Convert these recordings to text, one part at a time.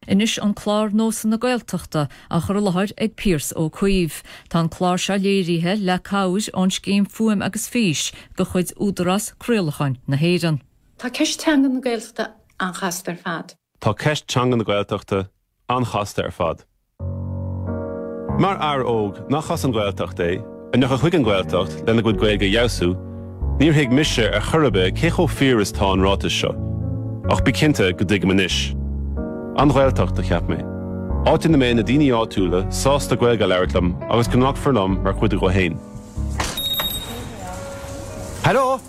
Anois an clár Nósanna Gaeltachta á chur i láthair ag Pearse Ó Caoimh. Tá an clár seo léirithe le cabhair ón Scéim Fuaim agus Fís de chuid Údarás Craolacháin na hÉireann. Tá ceist teanga na Gaeltachta an-chasta ar fad. Tá ceist teanga na Gaeltachta an-chasta ar fad. Mar fhear óg nach as an Ghaeltacht é, a ndeachaidh chuig an Ghaeltacht lena gcuid Gaeilge a fheabhsú, níor thuig mise ar chor ar bith cé chomh fíor is tá an ráiteas seo. Ach bí cinnte go dtuigim anois. An Ghaeltacht, a cheap mé. Áit ina mbeidh na daoine áitiúla sásta Gaeilge a labhairt liom agus go nglacfar liom mar chuid díobh féin. Heileo!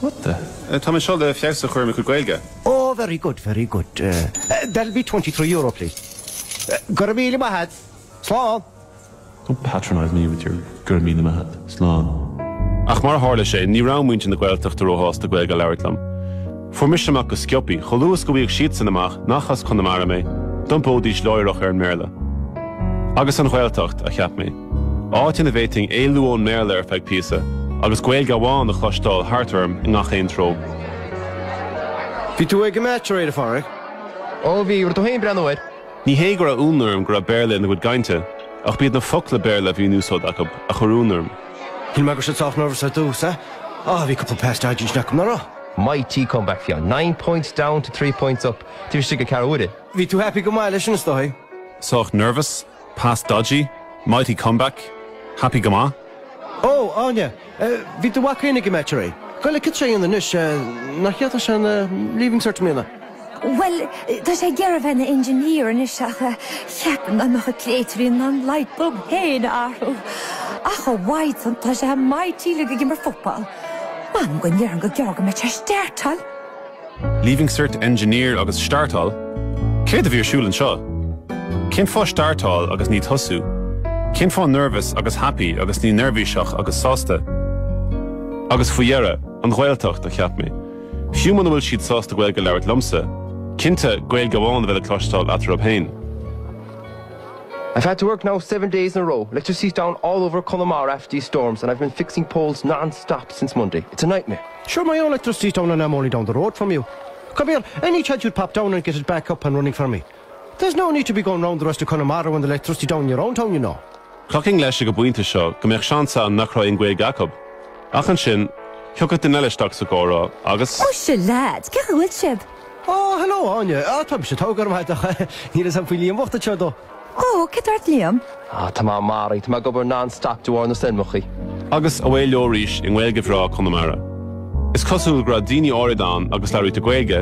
What the? Tá mé seo le feabhas a chur ar mo chuid Gaeilge. Oh very good, very good. That'll be twenty three euro please. Go raibh míle maith a't. Slán. Don't patronise me with your go raibh míle maith a't. Slán. Ach mar a tharla sé, ní raibh muintir na Gaeltachta róshásta Gaeilge a labhairt liom. Fuair mise amach go sciopaí, chomh luath is go bhfaigheadh siadsan amach nach as Conamara mé, d'iompóidís láithreach ar an mBéarla. Agus an Ghaeltacht, a cheap mé. áit ina bhféadfainn éalú ón mBéarla ar feadh píosa agus Gaeilge amháin a chloisteáil thart orm i ngach aon treo. Bhí tú ag an match aréir, a Pháraic? Ó bhí, raibh tú féin ag breathnú air? Ní hé go raibh ionadh orm go raibh Béarla ina gcuid cainte, ach b'iad na focla Béarla a bhí in úsáid acu a chuir ionadh orm. Shíl mé go raibh siad sách nervous ar dtús, eh? Á, bhí cúpla pass dodgy acu, nach raibh? Mighty comeback fiú. Nine points down to three points up. Taobh istigh de ceathrú uaire. Bhí tú happy go maith leis sin, is dóigh? Sách nervous? Pass dodgy, mighty comeback, happy go maith. Ó, Áine! Bhí do mhac féin ag an match aréir. Bhuel, cén aois é anois, nach ndéanfaidh sé an Leaving Cert i mbliana? Bhuel, tá sé ag iarraidh a bheith ina engineer anois ach ceapaim nach mbeadh an créatúirín in ann light bulb féin a athrú. Ach a Mhaighdean, tá sé mighty uilig ag imirt football. M'anam go ndéarfainn gur gearr go mbeidh sé ag steirteáil! Leaving Cert Engineer agus Startál, Céard a bhí ar siúl anseo? Cén fáth Startál agus ní Tosú? Cén fáth Nervous agus Happy agus ní Neirbhíseach agus Sásta? Agus faoi dheireadh, an Ghaeltacht, a cheap mé. Fiú muna bhfuil siad sásta Gaeilge a labhairt liomsa, cinnte Gaeilge amháin a bheidh le cloisteáil eatarthu féin. I've had to work now seven days in a row. Electricity's down all over Connemara after these storms, and I've been fixing poles non-stop since Monday. It's a nightmare. Sure, my own electricity's down and I'm only down the road from you. Come here, any chance you'd pop down and get it back up and running for me? There's no need to be going round the rest of Connemara when the electricity down in your own town, you know. Thiocfainn leis ag an bpointe seo go mbeadh seans ann nach raibh aon Ghaeilge acu. Ach ansin, thiocfadh duine eile isteach sa gcomhrá agus, Ó sure lads, cad a bhfuil sibh? Oh, hello Áine, ah, tá mise tóg orm haideach. Níl is an faoi líon bhochta seo dó. Ó, céard tá ort Liam? Á, tá mé maraithe, tá mé ag obair non-stop de bharr na stoirmeachaí. Agus away leo arís i nGaeilge bhreá Conamara. Is cosúil go raibh daoine áirid ann go labhraítear Gaeilge,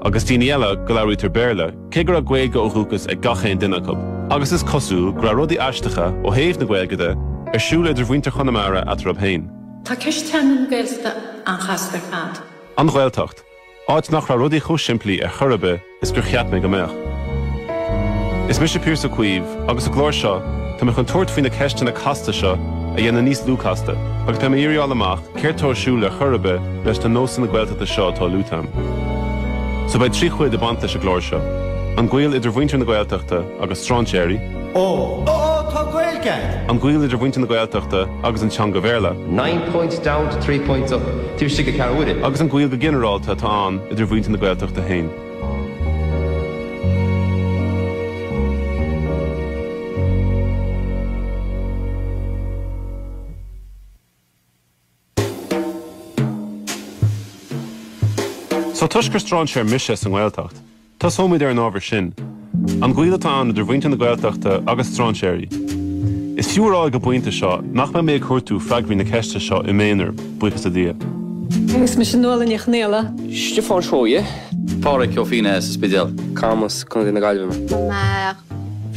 agus daoine eile go labhraítear Béarla, cé go raibh Gaeilge ó dhúchas ag gach aon duine acu. Agus is cosúil go raibh rudaí aisteacha, ó thaobh na Gaeilge de, ar siúl idir mhuintir Chonamara eatarthu féin. Tá ceist teanga na Gaeltachta an-chasta ar fad. An Ghaeltacht. Áit nach raibh rudaí chomh simplí ar chor ar bith is gur cheap mé go mbeadh. Is mise Pearse Ó Caoimh, agus sa gclár seo, tá mé chun tabhairt faoi na ceisteanna casta seo a dhéanamh níos lú casta, agus beidh mé ag iarraidh fáil amach céard tá ar siúl ar chor ar bith leis na nósanna Gaeltachta seo atá luaite agam. So beidh trí chuid ag baint leis an gclár seo, an gaol idir mhuintir na Gaeltachta, agus strainséirí. Ó! Ó! Tá Gaeilge agat! An gaol idir mhuintir na Gaeltachta agus an teanga Bhéarla. Nine points down to three points up, taobh istigh de cheathrú uaire. Agus an gaol go ginearálta atá ann idir mhuintir na Gaeltachta féin. Só toisc gur stráinséar mise sa nGaeltacht, tosóimid ar an ábhar sin, an gaol atá ann idir mhuintir na Gaeltachta agus stráinséirí. Is fiú a rá ag an bpointe seo nach mbeidh mé ag cuardú freagraí na ceiste seo i m'aonar, buíochas le Dia. Is mise Nuala Ní Chonaola. Stiofán Seoighe. Páraic Ó Fínneadha sa Spidéal. Camas, Co na Gaillimhe.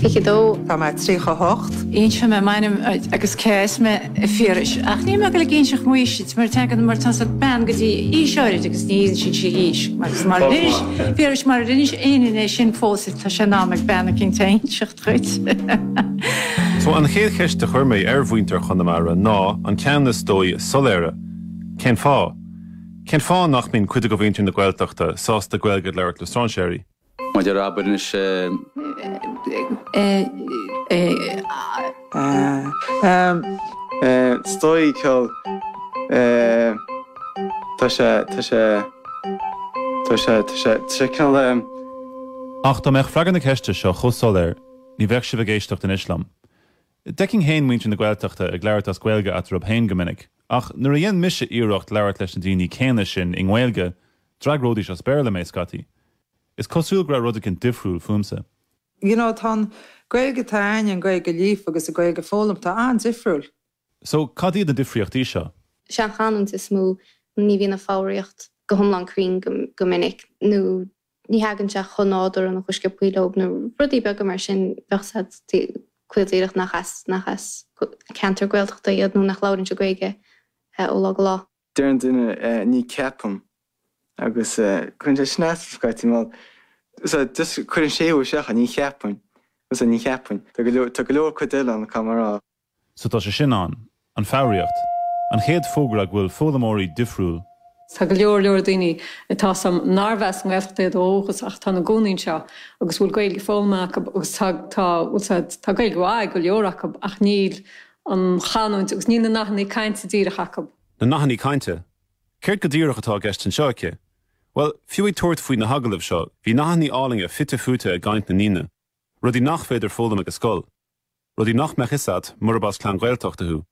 22. Tá mé 38. Inseoidh mé m'ainm agus cé as mé, a Phiarais, ach níl mé ag goil ag inseacht m'aois duit, mar teagann mar tá's a'd bean go dtí aois áirid agus ní inseann sí a haois. Agus marar inis, a Phiarais, marar inis aon duine é sin fós, tá sé in am ag bean eicínt é a inseacht dhuit. So, an chéad cheist a chuir mé ar mhuintir Chonamara ná an ceann is dóigh is soiléire, cén fáth? Cén fáth nach mbíonn cuid de mhuintir na Gaeltachta sásta Gaeilge a labhairt le stráinséirí? Maidir le abair anois eh. Stoic ceoil Tá sé Tá sé Tá sé Tá sé Tá ceol leis. Ach dá mbeadh freagra na ceiste seo chomh soiléir, ní bheadh sibh ag éisteacht anois liom. D'fheicinn féin muintir na Gaeltachta ag labhairt as Gaeilge eatarthu féin go minic, ach nuair a dhéan mise iarracht labhairt leis na daoine céanna sin i nGaeilge, D'fhreagróidís as Béarla mé, scaití. Is cosúil go raibh rud éigin difriúil fúmsa. You know, tá an Gaeilge, tá aithne ar an Gaeilge líofa agus an Gaeilge foghlamtha, tá sé an-difriúil. So, cad iad na difríochtaí seo? Is é an chanúint is mó, ní bhíonn an foghraíocht go hiomlán cruinn go minic, nó ní thagann sé chomh nádúrtha an chuisc a poill óg, nó rudaí beaga mar sin. Bheadh a fhios a'd caol díreach nach as, nach as ceantar Gaeltachta iad nó nach labhrann siad Gaeilge ó lá go lá. Deir an duine, ní ceapaim. Agus cuireann sé sin asam scaití, má sea, just cuireann séimhiú isteach, ní cheapainn, má sea, ní cheapainn. Tá go leor cuid eile ann atá mar a. So tá sé sin ann. An foghraíocht. An chéad fógra go bhfuil foghlaimeoirí difriúil. Tá go leor leor daoine atá sa narbh as an nGaeltacht iad ó dhúchas ach tá ina gcónaí anseo agus a bhfuil Gaeilge foghlamtha acu agus tá, bhuel sea, tá Gaeilge mhaith ag go leor acu ach níl an chanúint agus níl na nathannaí cainte díreach acu. Na nathanna cainte? Céard go díreach atá i gceist anseo aici? Bhuel, fiú ag tabhairt faoi na hagallaimh seo, bhí nathannaí álainne fite fuaite i gcaint na ndaoine, rudaí nach féidir foghlaim ag an scoil, rudaí nach mbeadh fhios agat murab as clann Ghaeltachta thú,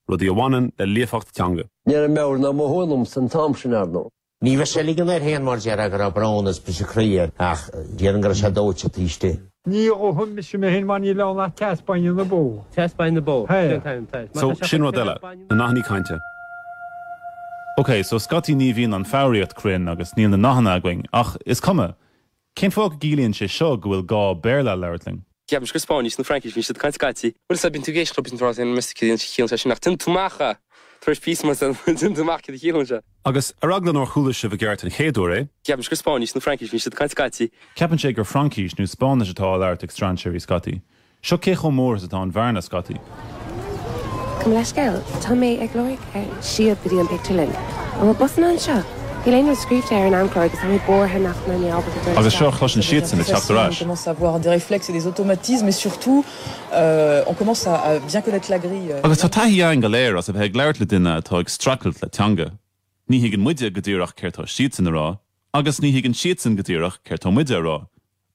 rudaí a bhaineann le líofacht teanga. Ní raibh meabhair ná mothú ionam san t-am sin, ar ndóigh. Ní raibh sé ag ligean air féin mar deir go raibh brón agus briseadh croí air ach déarfainn go raibh sé dóite taobh istigh. Ní dhófaidh mise mé féin mar níl ann ach teas bainne na bó. Teas bainne na bó. Sin an t-ainm atá air. So, sin rud eile, na nathannaí cainte. Ok, so scaití ní bhíonn an foghraíocht cruinn agus níl na nathanna againn ach is cuma, Cén fáth go gciallaíonn sé seo go bhfuil gá Béarla a labhairt linn? Ceapaim gur Spáinnis nó Fraincis a bhíonn siad ag caint scaití. Bhuel, sea, bíonn tú ag éisteacht leo bíonn tú ag rá meas tú cén chaoi a chiallaíonn sé sin ach déanann tú amach tar éis píosa mar sin, déanann tú amach cad a chiallaíonn sé. Agus ar eagla nár chuala sibh i gceart an chéad uair é. Ceapaim gur Spáinnis nó Fraincis a bhíonn siad ag caint scaití. Ceapann sé gur Fraincis nó Spáinnis atá á labhairt ag strainséirí scaití. Seo cé chomh mór is atá an bhearna, scaití. Gabh mo leithscéal, tá mé ag lorg síob go dtí an pictiúrlann. An bhfuil busanna anseo? Níl aon rud scríbhte ar an amchlár agus tá mé buartha nach mbeidh mé ábalta dul isteach. Agus seo a chloiseann siadsan ag teacht ar ais. Agus tá taithí againn go léir as a bheith ag labhairt le duine atá ag streachailt le teanga. Ní thuigeann muide go díreach céard tá siadsan a rá agus ní thuigeann siadsan go díreach céard tá muide a rá.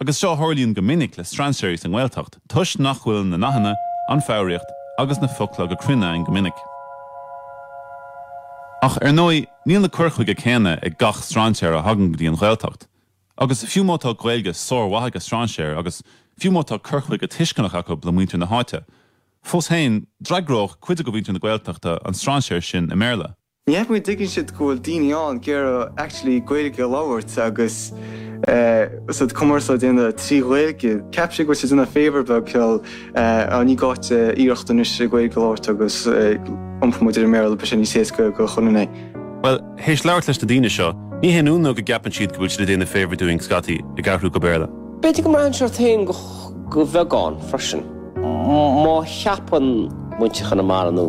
Agus seo a tharlaíonn go minic le strainséirí sa nGaeltacht toisc nach bhfuil na nathanna, an foghraíocht agus na focla go cruinn ann go minic. Ach ar ndóigh níl na cuir chuige céanna ag gach strainséir a thagann go dtí an Ghaeltacht. Agus fiú má tá Gaeilge sár-mhaith ag an strainséir agus fiú má tá cur chuige tuisceanach acu le muintir na háite, fós féin d'fhreagródh cuid de mhuintir na Gaeltachta an strainséir sin i mBéarla. Ní cheapaim go dtuigeann siad go bhfuil daoine ann ag iarraidh actually Gaeilge a labhairt agus cumarsáid a dhéanamh trí Ghaeilge. Ceapann siad go bhfuil siad ag déanamh favour beag ceal ah ní gá duit iarracht anois Gaeilge a labhairt agus iompóidh muid ar an mBéarla beidh sé níos éasca do chuile dhuine. Bhuel, théis labhairt leis na daoine seo, ní haon ionadh go gceapann siad go bhfuil siad ag déanamh favour dúinn scaití, ag athrú go Béarla. B'fhéidir go mbraitheann sé ort féin go. Go bheagán freisin. Má cheapann muintir Chonamara, nó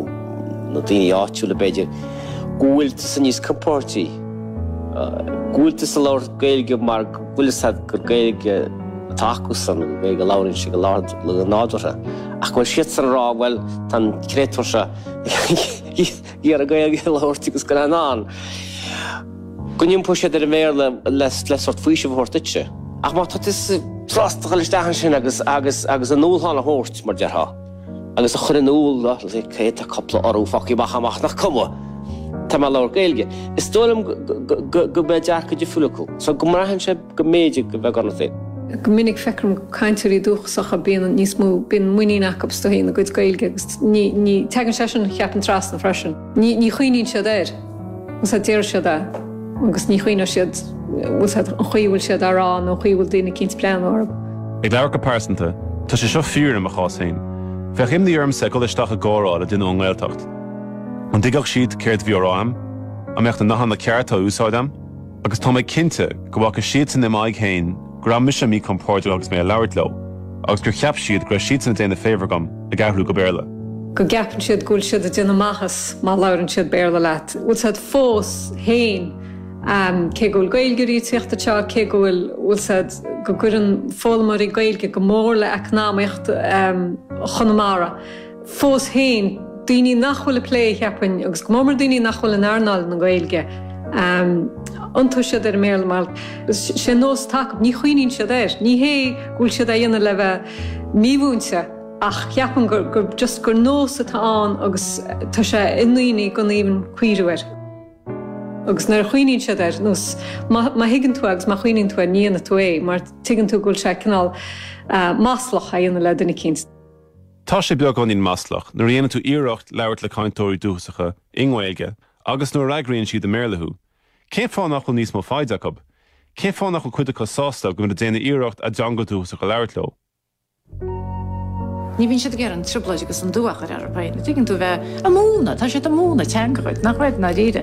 daoine áitiúla b'fhéidir, go bhfuil tusa níos compordaí, go bhfuil tusa ag labhairt Gaeilge mar go bhfuil a fhios agat gur Gaeilge atá acusan, Gaeilge a labhraíonn siad go láidir, go nádúrtha. Ach go bhfuil siadsan ag rá, bhuel, tá an créatúr seo, iarraidh Gaeilge a labhairt agus go raibh in ann go n-iompódh siad ar an mBéarla le sórt faoisimh a thabhairt duitse. Ach má tá tú sásta dul isteach ansin agus a ndúshlán a thabhairt, mar a déarfá, agus a chur in iúl dóibh cé atá cúpla urú fágtha amach agam ach nach cuma, tá mé ag labhairt Gaeilge, is dóigh liom go mbeidh dearcadh difriúil acu. So go mbraitheann sé. go mb'fhéidir go bheag ionat é. Go minic feictear dhom cainteoirí dúchasacha bíonn níos mó, bíonn muinín acu astu féin a gcuid Gaeilge agus ní, ní, teagann sé sin cheapfainn trasna freisin. Ní, ní chuimhníonn siad air. Bhfuil a fhios a'd deir siad é agus ní chuimhneodh siad, bhfuil a fhios a'd an chaoi a bhfuil siad á rá nó an chaoi a bhfuil daoine eicínt ag breathnú orthu. Ag labhairt go pearsanta, tá sé seo fíor i mo chás féin. Bheadh imní ormsa dul isteach i gcomhrá le duine ón nGaeltacht. An dtuigfeadh siad céard a bhí á rá a'm? An mbeadh na nathanna cearta á úsáid a'm? Agus tá mé cinnte go bhfaca siadsan i m'aghaidh féin go raibh mise míchompordach agus mé ag labhairt leo, agus gur cheap siad go raibh siadsan ag déanamh favour dhom ag athrú go Béarla. go gceapann siad go bhfuil siad ag déanamh maitheas má labhrann siad Béarla leat. Bhfuil a fhios a'd, fós féin, cé go bhfuil Gaeilgeoirí ag tíocht anseo, cé go bhfuil bhfuil a fhios a'd go gcuireann foghlaimeoirí Gaeilge go mór le eacnamaíocht Chonamara, fós féin, daoine nach bhfuil ag plé, cheapfainn, agus go mór-mór daoine nach bhfuil in earnáil na Gaeilge, iontóidh siad ar an mBéarla mar is é an nós atá acu. Ní chuimhníonn siad air. Ní hé go bhfuil siad á dhéanamh le bheith mímhúinte ach cheapfainn gur just gur nós atá ann agus tá sé i ndaoine gan aon chuimhniú air. Agus nuair a chuimhníonn siad air nó má thuigeann tú agus má chuimhníonn tú air ní dhéanfaidh tú é mar tuigeann tú go bhfuil sé cineál maslach a dhéanamh le duine eicínt. Tá sé beagáinín maslach nuair a dhéanann tú iarracht labhairt le cainteoirí dúchasacha i nGaeilge agus nuair a fhreagraíonn siad i mBéarla thú. Cén fáth nach bhfuil níos mó foighde acu? Cén fáth nach bhfuil cuid acu sásta go bhfuil muid ag déanamh iarracht a dteanga dúchasach a labhairt leo? Ní bhíonn siad ag iarraidh an trioblóid agus an dua a chur orthu féin. Tuigeann tú, bheith ag múineadh, tá siad ag múineadh teanga dhuit, nach bhfuil i ndáiríre.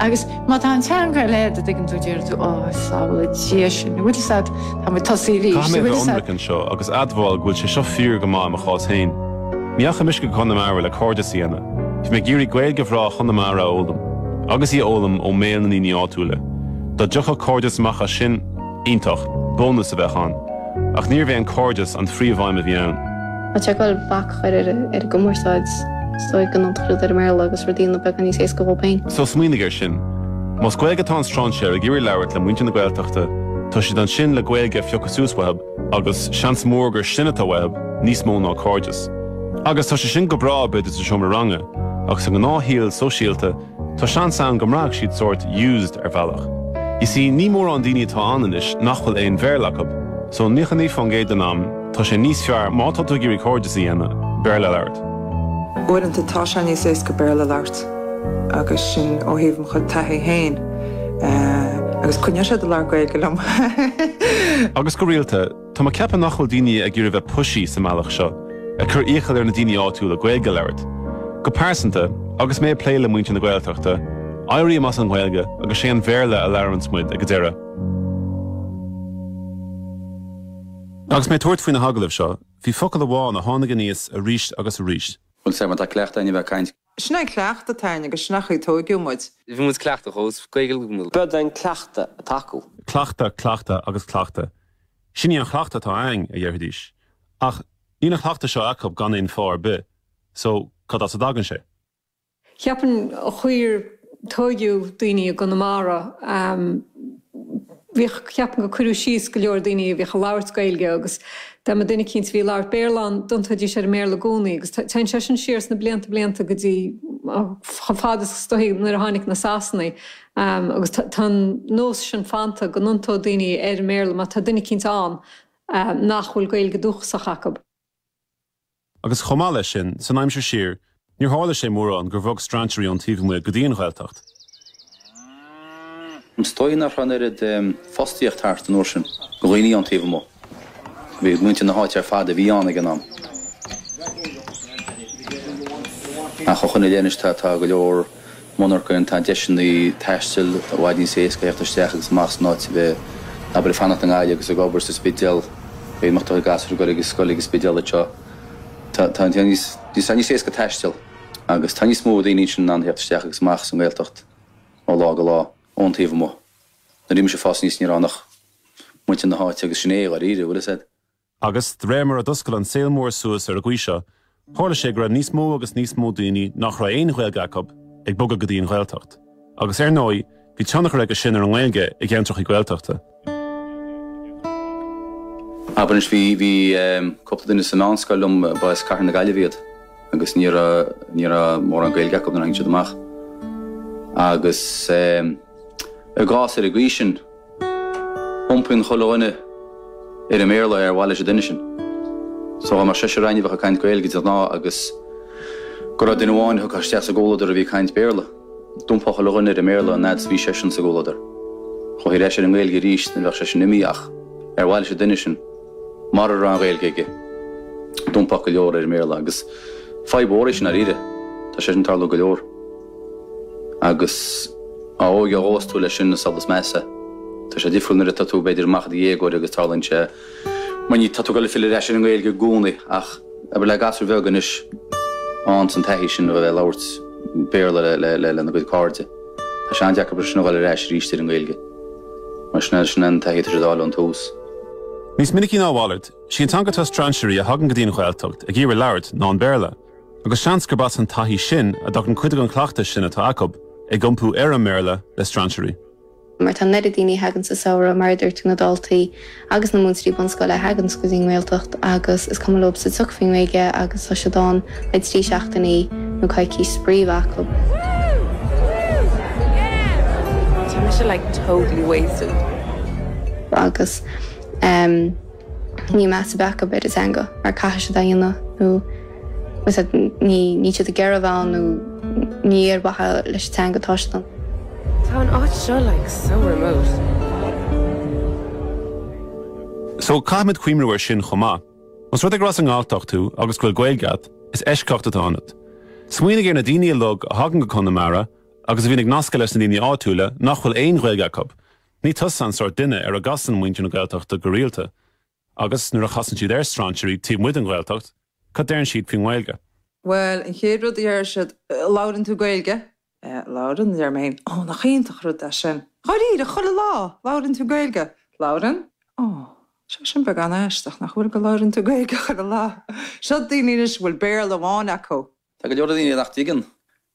Agus má tá an teanga eile a'd, tuigeann tú, déarfaidh tú, Ó, sábhála Dia sinn, an bhfuil a fhios a'd, tá muid tosaithe arís. Caithfidh mé a bheith ionraic anseo agus admháil go bhfuil sé seo fíor go maith i mo chás féin. Ní dheachaigh mise go Conamara le cairdeas a dhéanamh. Bhí mé ag iarraidh Gaeilge bhreá Chonamara a fhoghlaim, agus í a fhoghlaim ó mbéal na ndaoine áitiúla. Dá dtiocfadh cairdeas amach as sin, Iontach. Bónas a bheadh ann. Ach níorbh é an cairdeas an phríomhaidhm a bhí ann. Má tá tú ag gabháil bac a chur ar an gcumarsáid, is dóigh go n-iontófar ar an mBéarla agus rudaí a dhéanamh beagán níos éasca dhóibh féin. So smaoinigh ar sin. Más Gaeilge atá an strainséir ag iarraidh labhairt le muintir na Gaeltachta, tá siad ansin le Gaeilge a phiocadh suas uathab agus seans mór gur sin atá uathab, níos mó ná cairdeas. Agus tá sé sin go breá b'fhéidir sa seomra ranga, ach sa ngnáthshaol sóisialta, Tá seans ann go mbraithfeadh siad sórt used ar bhealach. You see, ní mórán daoine atá ann anois nach bhfuil aon Bhéarla acu, so 99% den am, tá sé níos fearr má tá tú ag iarraidh cairdeas a dhéanamh, Béarla a labhairt. Uaireanta tá sé níos éasca Béarla a labhairt agus sin ó thaobh mo chuid taithí féin agus coinneoidh siad ag labhairt Gaeilge liom. Agus go rialta. Tá mé ag ceapadh nach bhfuil daoine ag iarraidh bheith pushy sa mbealach seo, ag cur iachaill ar na daoine áitiúla Gaeilge a labhairt. Go pearsanta, agus mé ag plé le muintir na Gaeltachta, éirím as an nGaeilge agus sé an Bhéarla a labhraíonns muid ag a deireadh. Agus mé ag tabhairt faoi na hagallaimh seo, bhí focal amháin a tháinig aníos aríst agus aríst. Bhuel, sea, má tá cleachtadh a'inn a bheith ag caint. Sin é an cleachtadh atá a'inn agus sin an chaoi a tóigeadh muid. Bhí muid cleachtach ós Gaeilgeoirí muid. B'in an cleachtadh atá acu. Cleachtadh, cleachtadh agus cleachtadh. Sin í an chleachtadh atá againn, a dhéarfaidís. Ach níl an cleachtadh seo acu gan aon fáth ar bith, so cad as a dtagann sé? Ceapaim an chaoi ar. tóigeadh daoine i gConamara. Bhíodh, ceapaim gur cuireadh síos go leor daoine a bhíodh ag labhairt Gaeilge agus dá mba duine eicínt a bhí ag labhairt Béarla ann, d'iontaoidís ar an mBéarla i gcónaí agus téann sé sin siar sna blianta blianta go dtí chomh fada is dóigh nuair a tháinig na Sasanaigh agus tá an nós sin fanta go n-iontódh daoine ar an mBéarla má tá duine eicínt ann nach bhfuil Gaeilge dúchasach acu. Agus chomh maith leis sin, san aimsir siar, níor tharla sé mórán gur bhog strainséirí ón taobh amuigh go dtí an Ghaeltacht. Is dóigh nach raibh an oiread fostaíocht thart an uair sin do dhaoine ón taobh amuigh. Ba iad muintir na háite ar fad a bhí ann ag an am. Ach ó shoin i leith anois tá go leor. monarchana ann, tá deiseanna taistil i bhfad níos éasca a theacht isteach agus amach san áit a bheith, abair, ag fanacht i nGaillimh agus ag obair sa Spidéal, b'fhéidir go mbeadh gasúir ag dul ag scoil ag an Spidéal anseo. Tá tá tá níos tá níos éasca taisteal agus tá níos mó daoine ansin in ann theacht isteach agus amach sa nGaeltacht ó lá go lá ón taobh amuigh. Nuair a bhí mise ag fás aníos ní raibh ach muintir na háite agus sin é, dháiríre, bhfuil fhios a'd. Agus, de réir mar a d'oscail an saol mór suas ar an gcaoi seo, tharla sé go raibh níos mó agus níos mó daoine nach raibh aon Ghaeilge acu ag bogadh go dtí an Ghaeltacht. Agus, ar ndóigh, bhí tionchar aige sin ar an nGaeilge i gceantrachaí Gaeltachta. Abair anois, bhí, bhí ehm, cúpla duine sa meánscoil liom, ba as cathair na Gaillimhe iad agus ní raibh, ní raibh mórán Gaeilge acu nuair a tháinig siad amach. Agus ehm, i gcás ar an gcaoi sin, Iompaíonn chuile dhuine ar an mBéarla ar mhaithe leis an duine sin. So dá mbeadh seisear againn a bheadh ag caint Gaeilge de ghnáth agus go raibh duine amháin a thiocfadh isteach sa gcomhluadar a bhí ag caint Béarla, d'iompódh chuile dhuine ar an mBéarla an fhad is a bhí seisean sa gcomhluadar. Chuaigh ar ais ar an nGaeilge aríst nuair a bheadh seisean imithe ach ar mhaithe leis an duine sin, mura raibh an Ghaeilge aige, d'iompódh go leor ar an mBéarla agus fadhb mhór é sin, dháiríre. Tá sé sin ag tarlú go leor. Agus dá óige a dtosós tú leis sin is ea is measa. Tá sé difriúil nuair atá tú, b'fhéidir, amach i do dhéagóir agus tarlaíonn sé, mar ní, tá tú ag goil ag filleadh ar ais ar an nGaeilge i gcónaí. Ach abair le gasúr bheag anois an sórt taithí sin a bheith ag labhairt Béarla lena gcuid cairde, tá sé an-deacair mar sin a dhul ar ais arís ar an nGaeilge. Mar sin é, sin an taithí atá siad á fháil ón tús. Níos minicí ná a mhalairt, sí an teanga atá strainséirí a thagann go dtí an Ghaeltacht ag iarraidh labhairt ná an Béarla. Agus seans gurb as an taithí sin a dtagann cuid den chleachtas sin atá acub, ag iompú ar an mBéarla le strainséirí. Mar tá an oiread daoine a thagann sa samhradh, mar a deir tú, na daltaí agus na múinteoirí bunscoile a thaganns go dtí an nGaeltacht agus is cuma leob sa tsioc faoin nGaeilge agus tá siad ann le trí seachtainí nó coicís spraoi a bheith acub. Agus. Ní measa a bheadh acub ar an teanga mar caithfidh siad é a dhéanamh nó is that ní níl siad ag iarraidh a bheith ann nó ní ar mhaithe leis an teanga atá siad ann. Tá an áit seo like so remote. So caithfimid cuimriú ar sin chomh maith. Más rud é gur as an nGalltacht thú agus go bhfuil Gaeilge agat, is eisceacht atá ionat. Smaoinigh ar na daoine uilig a thagann go Conamara agus a bhíonn ag nascadh leis na daoine áitiúla nach bhfuil aon Ghaeilge acub, Ní tusa an sórt duine ar a gcasann muintir na Gaeltachta go rialta. Agus nuair a chasann siad ar strainséirí taobh amuigh den Ghaeltacht, cad deireann siad faoin nGaeilge? Bhuel, an chéad rud a dheir siad, 'Labhrann tú Gaeilge? 'Labhrann, a deir mé fhéin. 'Ó, nach iontach rud é sin. Dháiríre, chuile lá! Labhrann tú Gaeilge? 'Labhrann. 'Ó, tá sé sin beagán aisteach, nach bhfuil, go labhrann tú Gaeilge chuile lá. Seo daoine anois a bhfuil Béarla amháin acu. Tá go leor daoine nach dtuigeann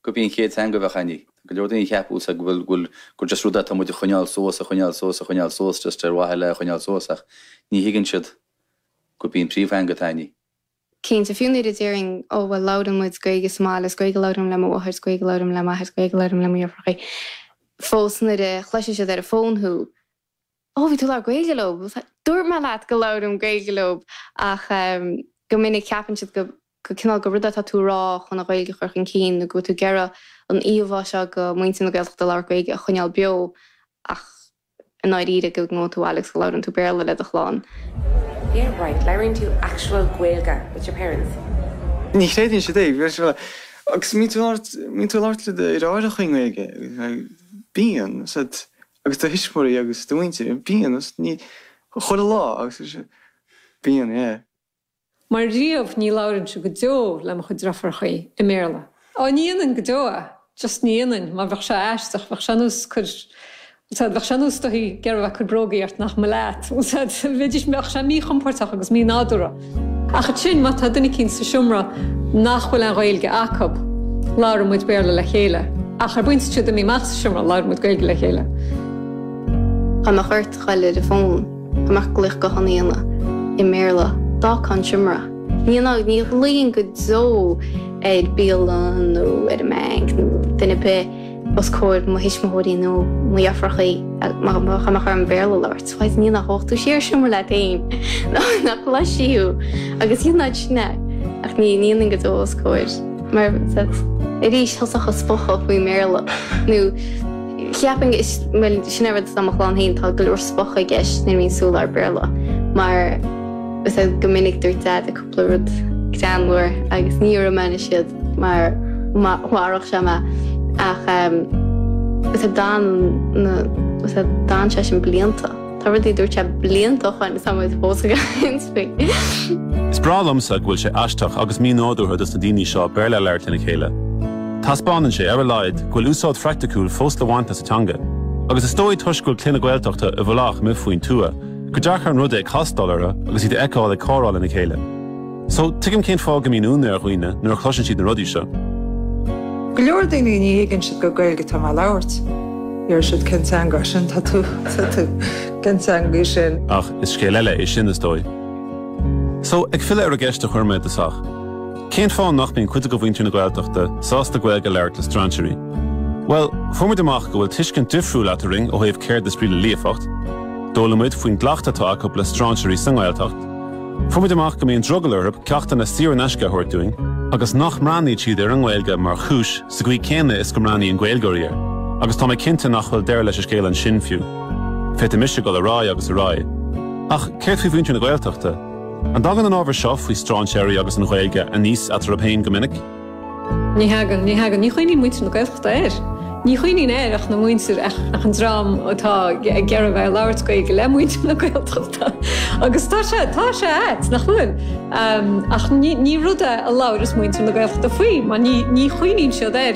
gurb í an chéad teanga a bheadh againn í. Tá go leor daoine a cheapfadh go bhfuil, bhuel, gur just rud é atá muid a choinneáil suas, a choinneáil suas, a choinneáil suas, just ar mhaithe le a choinneáil suas ach ní thuigeann siad gurb í an príomhtheanga atá againn í. Cinnte, fiú nuair a déarfainn, oh, bhuel, labhraíonn muid Gaeilge sa mbaile, is Gaeilge a labhraím le mo mháthair, is Gaeilge a labhraím le m'athair, is Gaeilge a labhraím le mo dheirfiúracha, fós nuair a chloiseann siad ar an bhfón thú, oh bhí tú ag labhairt Gaeilge leob dúirt mé leat go labhraím Gaeilge leob ach ehm go minic ceapann siad go go cineál gur rud atá tú a rá chun an Ghaeilge a chur chun cinn nó go bhfuil tú ag iarraidh an íomhá seo de mhuintir na Gaeltachta ag labhairt Gaeilge a choinneáil beo ach i ndáiríre go ngabhann tú abhaile agus go labhraíonn tú Béarla le do chlann. Yeah right, labhraíonn tú actual Gaeilge with your parents? Ní chreideann siad é, go raibh sé mar agus mbíonn tú labhairt mbíonn tú labhairt le d'athair i gcónaí i nGaeilge bíonn siad Agus do thuismirí agus do mhuintir. Bíonn. 'S ní chuile lá? agus is ea. Bíonn, yeah. Mar riamh, ní labhróinnse go deo le mo chuid driofúrachaí, i mBéarla. Á, ní dhéanfainn go deo é, just ní dhéanfainn. Mar bheadh sé aisteach, bheadh sé ar nós cur, you know sórt, bheadh sé ar nós dá mbeifeá ag iarraidh a bheith ag cur brógaí ort nach mba leat, you know sórt, bheadh sé míchompordach agus mínádúrtha. Ach ansin, má tá duine éicínt sa seomra nach bhfuil an Ghaeilge acu, labhraíonn muid Béarla le chéile. Ach ar an bpointe is atá siad imithe amach as an seomra, labhraíonn muid Gaeilge le chéile. Dhá mbeadh ort a ghoil ar an bhfón, dhá mbeadh glaoch gutháin a dhéanamh, i mBéarla, d'fhágfá an seomra. Ní dhéanfá, ní ghlaofainn go deo ar bialann nó ar an mbanc nó duine ar bith. os comhair mo thuismitheoirí nó mo dheirfiúracha dhá mbeadh orm Béarla a labhairt, bhuel, dhéanfadh, ghabhfadh tú siar sa seomra leat fhéin, nach gcloisfí thú, agus dhéanfá ansin é, ach ní dhéanfainn go deo os comhair, mar arís, thosódh an spochadh faoin mBéarla, nó cheapfainn go, bhuel, sin an rud i mo chlann fhéin, tá go leor spochadh i gceist nuair a bhíonn sé ag labhairt Béarla, mar go minic dúirt Daid, le rud greannmhar agus ní déarfaidh mé anseo iad mar mharódh sé mé ach lastálann, lastálann sé sin blianta. Tá rudaí a dúirt sé blianta ó shoin is tá muid fós ag inseacht faoi. Is breá liomsa go bhfuil sé aisteach agus mínádúrtha dos na daoine seo Béarla a labhairt lena chéile. Taispeánann sé, ar a laghad, go bhfuil úsáid phraiticiúil fós le baint as an teanga. Agus is dóigh toisc go bhfuil clanna Gaeltachta i bhfolach amuigh faoin tuath, gur deacair an rud é castáil orthu agus iad a fheiceáil ag comhrá lena chéile. So, tuigim cén fáth go mbíonn ionadh ar dhaoine nuair a chloiseann siad na rudaí seo. Go leor daoine ní thuigeann siad gur Gaeilge atá mé a labhairt. Deir siad cén teanga sin tá tú tá tú cén teanga sin. Ach is scéal eile é sin is dóigh. So, ag filleadh ar an gceist a chuir mé i dtosach, Cén fáth nach mbíonn cuid de mhuintir na Gaeltachta sásta Gaeilge a labhairt le strainséirí? Bhuel, fuair muid amach go bhfuil tuiscint difriúil eadrainn ó thaobh céard is brí le líofacht. D'fhoghlaim muid faoin gcleachtadh atá acu le strainséirí sa nGaeltacht. Fuair muid amach go mbíonn drogall orthu ceachtanna saor in aisce a thabhairt dúinn agus nach mbreathnaíonn siad ar an nGaeilge mar chúis sa gcaoi céanna is go mbreathnaíonn Gaeilgeoirí air. Agus tá mé cinnte nach bhfuil deireadh leis an scéal ansin fiú. Féadfaidh mise dul ar aghaidh agus ar aghaidh. Ach céard faoi mhuintir na Gaeltachta? An dtagann an ábhar seo faoi strainséirí agus an Ghaeilge aníos eatarthu féin go minic? Ní thagann, ní thagann. Ní chuimhníonn muintir na Gaeltachta air. Ní chuimhníonn air ach na muintir, ach an dream atá ag iarraidh a bheith ag labhairt Gaeilge le muintir na Gaeltachta. Agus tá sé, tá sé ait, nach gcuimhníonn. Ach ní rud é a labhaireas muintir na Gaeltachta faoi, mar ní chuimhníonn siad air.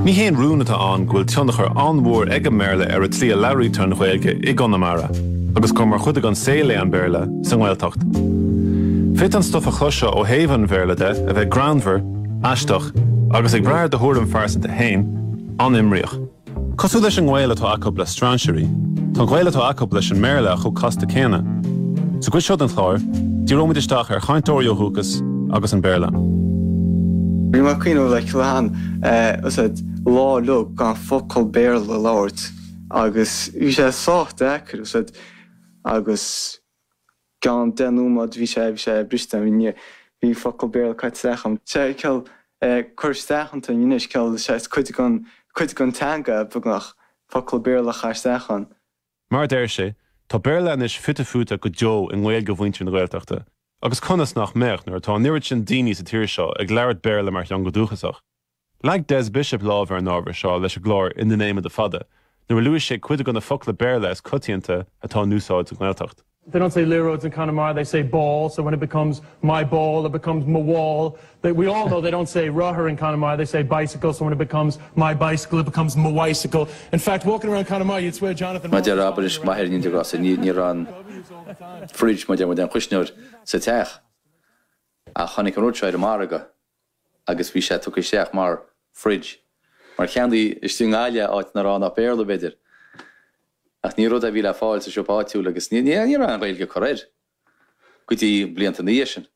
Ní haon rún atá ann go bhfuil tionchar an-mhór ag an mBéarla ar an tslí a labhraítear an Ghaeilge i gConamara, agus gur mar chuid den saol é an Béarla sa nGaeltacht. Féadfaidh an stuif a chloisfeá ó thaobh an Bhéarla de, a bheith greannmhar, aisteach, agus, ag brath ar do thuairim phearsanta fhéin, an-imníoch. Cosúil leis an ngaol atá acu le strainséirí, tá an gaol atá acu leis an mBéarla chomh casta céanna. Sa gcuid seo den chlár, díreoimid isteach ar chainteoirí ó dhúchas agus an Béarla. Bhí mé ag cuimhneamh like le. uaidh lá a ligean gan focal Béarla a labhairt agus bhí sé sách deacair uaidh agus i gceann deich nóiméad bhí sé bhí sé briste bhí focal Béarla caite isteach ann 'sé an chaoi a bhfuil sé curtha isteach anois an chaoi a bhfuil sé cuid den cuid den teanga beagnach focal Béarla a chur isteach ann. Mar a deir sé, tá Béarla anois fite fuaite go deo i nGaeilge mhuintir na Gaeltachta, agus conas nach mbeadh nuair atá an oiread sin daoine sa tír seo ag labhairt Béarla mar theanga dúchasach? Leag Des Bishop lámh ar an ábhar seo leis an gclár In the Name of the Fada nuair a luaigh sé cuid de na focla Béarla is coitianta atá in úsáid sa nGaeltacht. they don't say liathróid in Connemara, they say ball, so when it becomes my ball, it becomes mo bhall. They, we all know they don't say rothar in Connemara, they say bicycle, so when it becomes my bicycle, it becomes mo bhicycle. In fact, walking around Connemara, you'd swear Jonathan Má deir Rollins abair is maith ar an indiaidh as, ní ní raibh an fridge, má deir muid an chuisneoir, sa teach. Ach tháinig an rud seo ar an margadh. agus bhí sé tugtha isteach mar 'fridge', mar ceannaíodh istigh i nGaillimh, áit nach raibh ann ach Béarla, b'fhéidir. Ach ní rud é a bhí le fáil sa siopa áitiúil agus ní raibh aon Ghaeilge curtha air go dtí blianta ina dhiaidh sin.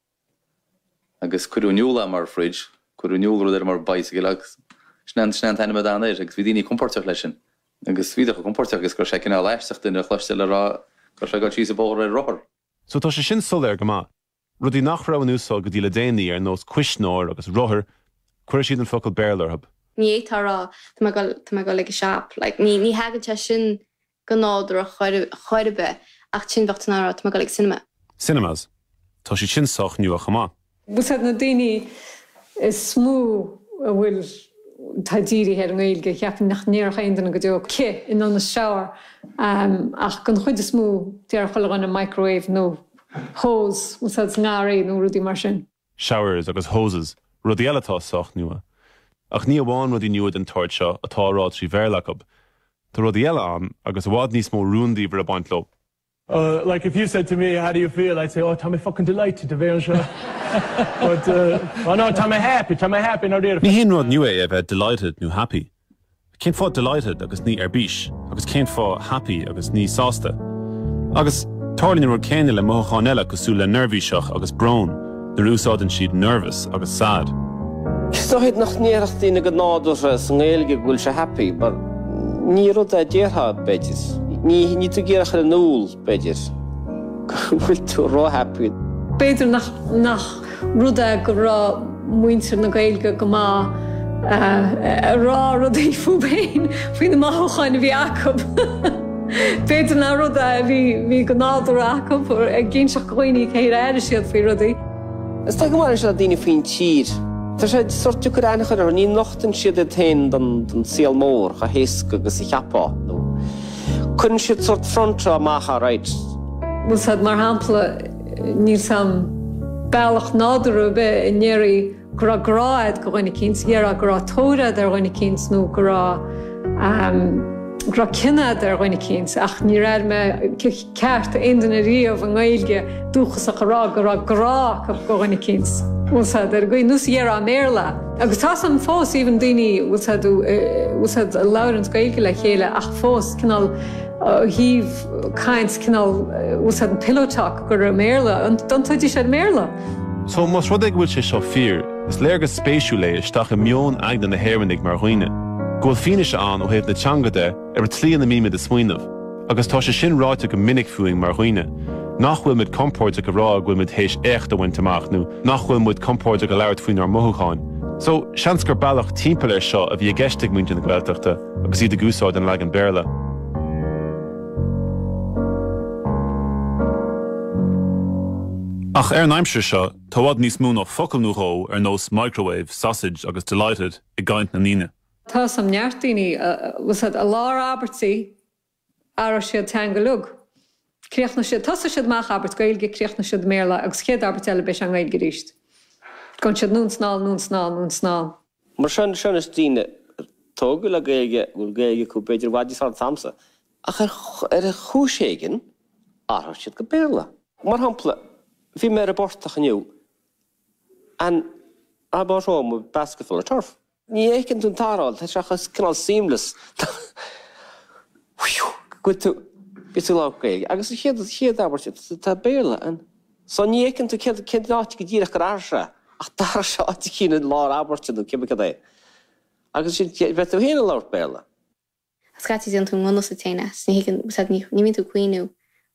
Agus cuireadh in iúl é mar 'fridge', cuireadh in iúl rud mar 'bicycle' agus sin é an t-ainm a d'fhan air agus bhí daoine compóirteach leis sin. Agus bhíodar chomh compóirteach is go raibh sé cineál aisteach duine a chloisteáil ag rá go raibh sé ag dul síos an bóthar ar rothar. So tá sé sin soiléir go maith. Rudaí nach raibh in úsáid go dtí le déanaí, ar nós cuisneoir agus rothair, chuir siad an focal Béarla orthu. Ní fhéadfainn a rá, tá mé ag dul, tá mé ag dul ag an shop. Like, ní, ní thagann sé sin go nádúrtha ar chor ar bith, ach ansin bheadh tú in ann a rá, tá mé ag dul ag cinema. Cinemas. Tá siad sin sách nua chomh maith. B'fhéidir gurb iad na daoine is mó a bhfuil, atá dírithe ar an nGaeilge, ceapaim nach ndéarfadh aon duine go deo cith in ionad shower, ach den chuid is mó, déarfadh chuile dhuine microwave nó. Hose a úsáid sa ngarraí nó rudaí mar sin. Showers agus hoses, rudaí eile atá sách nua. Ach ní amháin rudaí nua den tsórt seo atá á rá trí Bhéarla acu. Tá rudaí eile ann agus i bhfad níos mó rúndiamhair ag baint leo. Uh, like if you said to me, how do you feel? I'd say, oh, tá mé fucking delighted a bheith anseo. But, uh, oh no, tá mé happy, tá mé happy, a déarfá. Ní haon rud nua é a bheith delighted nó happy. Cén fáth delighted agus ní ar bís? Agus cén fáth happy agus ní sásta? Agus tarlaíonn an rud céanna le mothúcháin eile cosúil le neirbhíseach agus brón nuair a úsáideann siad nervous agus sad. Is dóigh nach ndéarfadh daoine go nádúrtha sa nGaeilge go bhfuil sé happy but ní rud é a déarfá, b'fhéidir. Ní tú ag iarraidh a chur in iúl. B'fhéidir go bhfuil tú ró-happy. B'fhéidir nach rud é go raibh muintir na Gaeilge go maith ag rá rudaí fúthu féin faoi na mothúcháin a bhí acu. B'fhéidir nach rud é a bhí go nádúrtha acu ag inseacht do dhaoine cén chaoi ar airigh siad faoi rudaí. Is dóigh go mbaineann sé le daoine faoin tír. Tá sé sórt deacair aithne a chur orthu. Ní nochtann siad iad féin don saol mór chomh héasca agus a cheapfá, nó. Cuireann siad sort front rá amach alright. 'bhfuil's agat mar shampla, níl aon bealach nádúrtha ar bith a ndéarfaí go raibh grá agat do dhuine éicint, déarfá go raibh tóir agat ar dhuine éicint nó go raibh, go raibh cion agat ar dhuine éicint ach níor airigh mé, ceart, aon duine riamh i nGaeilge dúchasach a rá go raibh grá acu do dhuine éicint. 'Bhfuil's agat ar an gcaoi nós a déarfá i mBéarla. Agus tá sé ann fós, even daoine 'bhfuil's agat a labhranns Gaeilge le chéile ach fós cineál thaobh caint cineál 'bhfuil's agat an pillow talk gur i mBéarla iondúil a bhíonn sé i mBéarla. So más rud é go bhfuil sé seo fíor, is léargas spéisiúil é isteach i meon aigne na nÉireannach mar dhaoine, go bhfuil fianaise ann ó thaobh na teanga de, Ar an tslí ina mbímid ag smaoineamh, agus tá sé sin ráite go minic fúinn mar dhaoine, nach bhfuil muid compordach a rá go bhfuil muid théis éacht a bhaint amach nó nach bhfuil muid compordach ag labhairt faoinár mothúcháin. So, seans gur bealach timpeall ar seo a bhí i gceist ag muintir na Gaeltachta agus iad ag úsáid an leagan Béarla. Ach ar an aimsir seo, tá i bhfad níos mó ná focal nó dhó ar nós microwave, sausage agus delighted i gcaint na ndaoine. Tá a fhios agam neart daoine 'bhfuil's agat i lár abairtí athróidh siad teanga uilig. Críochnóidh siad, tosóidh siad amach abairt Gaeilge, críochnóidh siad i mBéarla agus an chéad abairt eile beidh sé i nGaeilge arís. Gabhann siad anonn is anall, anonn is anall, anonn is anall. Mar sin, sin daoine tógtha le Gaeilge a bhfuil Gaeilge acu b'fhéidir i bhfad níos fearr ná atá agamsa. Ach ar ar chúis éigin athraíonn siad go Béarla. Mar shampla, bhí mé ar an bportach inniu and I bought home a basketful of turf. Ní fheiceann tú an t-athrú? Tá sé chomh cineál seamless. Go bhfuil tú lán Gaeilge. Agus an chéad, chéad abairt, tá Béarla ann. So ní fheiceann tú céard, céard an áit go díreach gur athraigh sé, ach d'athraigh sé áit éicint i lár abairte nó cibé cad é. Agus ansin, bheadh tú féin ag labhairt Béarla. Scaití déanann tú i ngan fhios duit féin é is ní thuigeann, siad ní, ní bhíonn tú ag cuimhniú,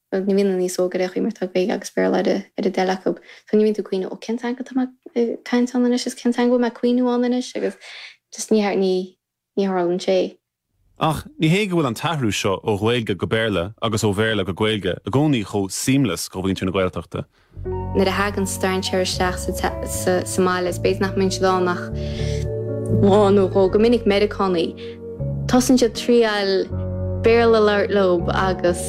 bhuel ní bhíonn daoine níos óige ar aon chaoi mar tá Gaeilge agus Béarla ar a, ar a dtoil acub, so ní bhíonn tú ag cuimhniú ó cén teanga atá mé ag caint ann anois is cén teanga bhfuil mé ag cuimhniú ann anois agus just ní, ní, ní tharlaíonn sé. Ach ní hé go bhfuil an t-athrú seo ó Ghaeilge go Béarla agus ó Bhéarla go Gaeilge i gcónaí chomh 'seamless' do mhuintir na Gaeltachta. Nuair a thagann strainséir isteach sa mbaile, is b'fhéidir nach mbíonn siad ann ach lá nó dhó, go minic Meiriceánaigh. Tosaíonn siad ag triail Béarla a labhairt leo agus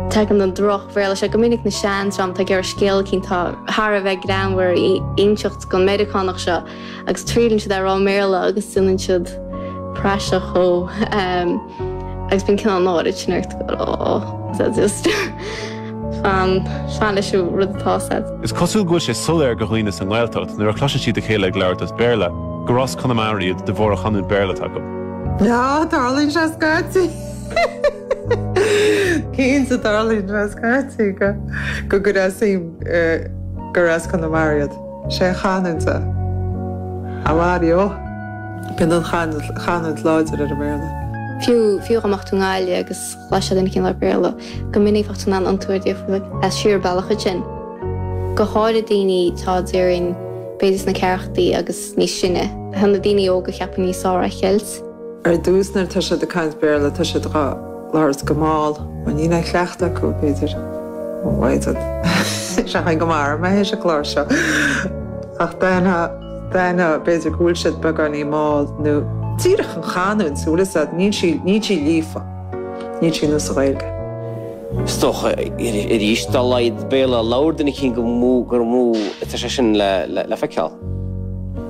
tagann an droch-Bhéarla seo, go minic an seandream tá, ag iarraidh scéal eicínt atá thar a bheith greannmhar a inseacht don Mheiriceánach seo. agus triaileann siad é a rá i mBéarla agus déanann siad praiseach dhó agus bíonn cineál an náire sin ort go oh is that just fan fan leis an rud atá 'fhios a'd. Is cosúil go bhfuil sé soiléir do dhaoine sa nGaeltacht nuair a chloiseann siad a chéile ag labhairt as Béarla gur as Conamara iad de bharr an chanúint Béarla atá acu. Yeah, tarlaíonn sé, a Scottie. Cinnte tarlaíonn sé, a Scottie, go go gur as gur as Conamara iad. Sé an chanúint é. A Mhuire ó! Bíonn an chanúint láidir ar an mBéarla. Fiú, fiú dhá mbeadh tú i nGaillimh agus chloisfeá duine eicínt le Béarla, go minic bheadh tú in ann aithint orthu díreach as siar bealach iad sin. Go háirithe daoine atá déarfainn, b'fhéidir sna ceathrachaí agus níos sine, tá na daoine óga, cheapfainn, níos fearr á cheilt. Act. Ar dtús, nuair atá siad ag caint Béarla, tá siad dhá labhairt go mall. Bhuel, níl aon chleachtadh acu, b'fhéidir. Ó, mhaighdean. Is ea, thank you mar mbeidh sé sa chlár seo. Ach d'aithneofá, d'aithneofá, b'fhéidir go bhfuil siad beagáinín mall, nó díreach an chanúint, a bhfuil 'fhios a'd, níl sí, níl sí líofa. Níl sí ar nós an Ghaeilge. Is dócha, arís, dá laghad Béarla a labhair duine eicínt, gur mó, gur mó atá sé sin le feiceáil.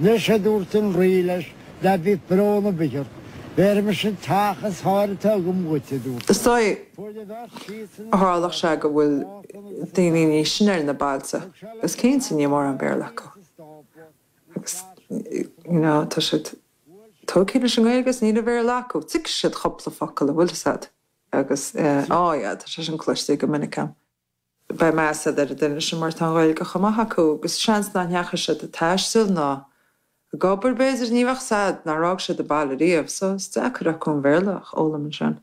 Anois, a dúirt an Rí leis, ná bíodh brón ar bith ort, bhéarfaidh mise an teach is fearr atá agam dhuit, a dúirt Is dóigh, a tharlódh sé, go bhfuil daoine níos sine ar na bailte agus cinnte níl mórán Béarla acu agus, you know, tá siad tógtha leis an nGaeilge agus níl aon Bhéarla acu. Tuigfidh siad cúpla focal, a bhfuil 'fhios a'd, agus, eh, oh yeah, tá sé sin cloiste go minic a'm. Beidh meas ar an duine sin mar tá an Ghaeilge chomh maith acu agus seans nach ndeachaigh siad ag taisteal ná ag obair, b'fhéidir, ní bheadh 'fhios a'd, nár fhág siad an baile riamh, so is deacair acu aon Bhéarla a fhoghlaim ansin.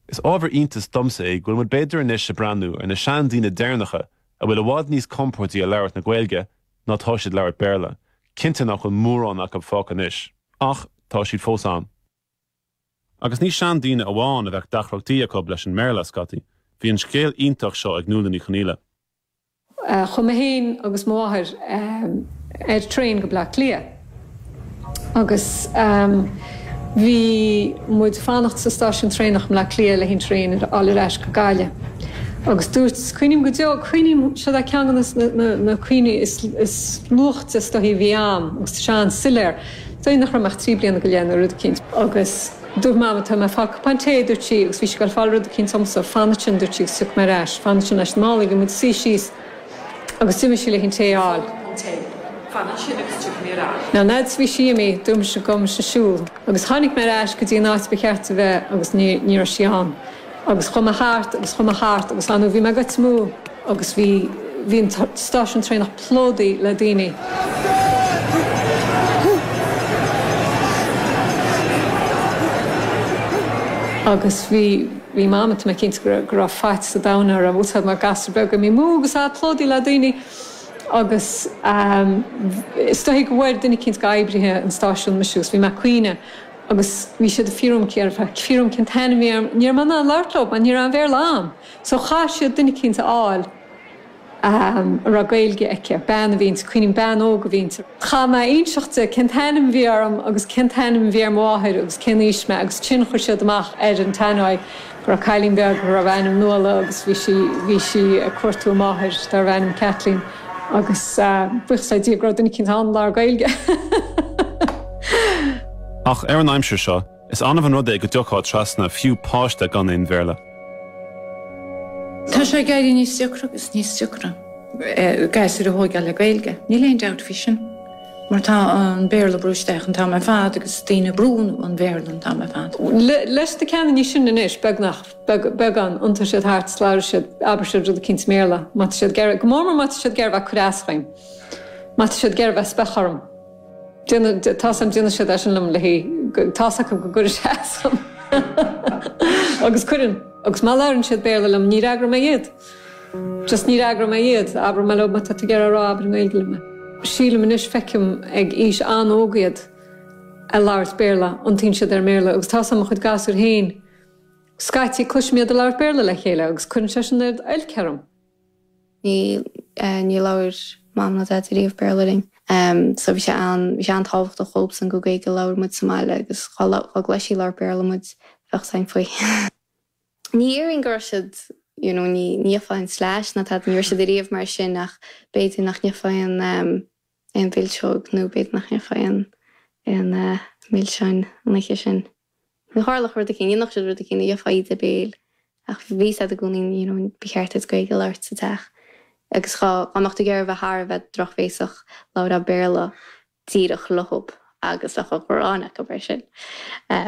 Is ábhar iontais domsa é go bhfuil muid b'fhéidir anois ag breathnú ar na seandaoine deireanacha a bhfuil i bhfad níos compordaí ag labhairt na Gaeilge ná tá siad ag labhairt Béarla, cinnte nach bhfuil mórán acu fágtha anois, ach tá siad fós ann. Agus ní seandaoine amháin a bheadh deacrachtaí acu leis an mBéarla, a Scottie. Bhí an scéal iontach seo ag Nuala Ní Chonaola. Chuaigh mé féin agus mo mháthair ar traein go Baile Átha Cliath agus bhí muid ag fanacht sa stáisiún traenach i mBaile Átha Cliath le haghaidh an traein a fháil ar ais go Gaillimh. Agus dúirt, cuimhním go deo, cuimhním, seo é ceann de na cuimhní is luaichte is dóichí a bhí a'm agus tá sé an-soiléar, Dóigh nach raibh mé ach trí bliana go leith nó rud eicínt. Agus dúirt Mama, tá mé ag fáil cupán tae, a dúirt sí, agus bhí sí ag dul ag fáil rud eicínt domsa. Fan ansin, a dúirt sí, agus tiocfaidh mé ar ais. Fan ansin leis na málaí. Lig muid suí síos agus d'imigh sí le haghaidh an tae a fháil. Now lads, bhí sí imithe. Dúirt mise gabhfaidh mise ag siúl. Agus tháinig mé ar ais go dtí an áit a ba cheart di bheith agus ní raibh sí ann. Agus chuaigh mé thart agus chuaigh mé thart agus anyway bhí mé ag gol níos mó agus bhí, bhí an stáisiún traenach plódaithe le daoine. Agus bhí, bhí mam, tá mé cinnte go raibh, go raibh faitíos an domhain uirthi mar gasúr beag imithe amú agus é plódaithe le daoine agus ehm is dóichí go bhfuair duine eicínt dho oibrithe an stáisiún mise agus bhí mé a' caoineadh Agus bhí siad ag fiafraí dhíom cén, ag fiafraí dhíom cén t-ainm a bhí orm. Ní raibh mé in ann labhairt leo mar ní raibh aon Bhéarla a'm. So chaith siad duine eicínt a fháil a raibh Gaeilge aici. Bean a bhí inti, cuimhním, bean óg a bhí inti. Chaith mé inseacht di cén t-ainm a bhí orm agus cén t-ainm a bhí ar mo mháthair agus cén aois mé agus ansin chuir siad amach ar an tannoy go raibh cailín beag darbh ainm Nuala agus bhí sí, bhí sí ag cuartú a máthair darbh ainm Kathleen agus buíochas le Dia go raibh duine eicínt in ann labhairt Gaeilge. Ach ar an aimsir seo, is annamh an rud é go dtiocfá trasna ar fiú páiste gan aon Bhéarla. Tá sé ag éirí níos deacra agus níos deacra gasúir a thógáil le Gaeilge, níl aon dabht faoi sin. Mar tá an Béarla brúite isteach an t-am ar fad agus daoine ag brú an Bhéarla an t-am ar fad. Leis na ceanna níos sine anois, beagnach, beagán, iontaíonn siad thart, labhraíonn siad, abraíonn siad rud eicínt i mBéarla, má tá siad ag iarraidh, go mór mór má tá siad ag iarraidh bheith ag cur as dhom, má tá siad ag iarraidh bheith ag spochadh orm. Tá's a'm, déanann siad é sin liom, le haghaidh, tá's acu go gcuireann sé as dom. Agus cuireann. Agus má labhraíonn siad Béarla liom, ní fhreagróidh mé iad. Just ní fhreagróidh mé iad. Abróidh mé leob, má tá tú ag iarraidh é a rá, abair i nGaeilge liom é. Sílim anois, feicim ag aois an-óg iad ag labhairt Béarla, iontaíonn siad ar an mBéarla agus tá's a'm mo chuid gasúir féin scaití, cloisim iad ag labhairt Béarla le chéile agus cuireann sé sin ardoilc orm. Níor labhair Mam ná Daid ariamh Béarla linn, so bhí sé an-tábhachtach dhóibsean gur Gaeilge a labhair muid sa mbaile agus dhá gcloisfí ag labhairt Béarla muid, bheadh caint faoi. Ní hionann is go raibh siad, you know, ní bhfaighfeá aon slais ná tada, ní raibh siad ariamh mar sin ach b'fhéidir nach bhfaighfeá aon mhilseog nó b'fhéidir nach bhfaighfeá aon mhilseáin an oíche sin. Nó tharlódh rud éicínt, nó dhéanfadh siad rud éicínt nó gheofá íde béil ach bhí sé i gcónaí, you know, ba cheart duit Gaeilge a labhairt sa teach agus dhá mbeadh tú ag iarraidh a bheith thar a bheith drochbhéasach, labhrófá Béarla. díreach leob agus bheadh an ghráin acu air sin.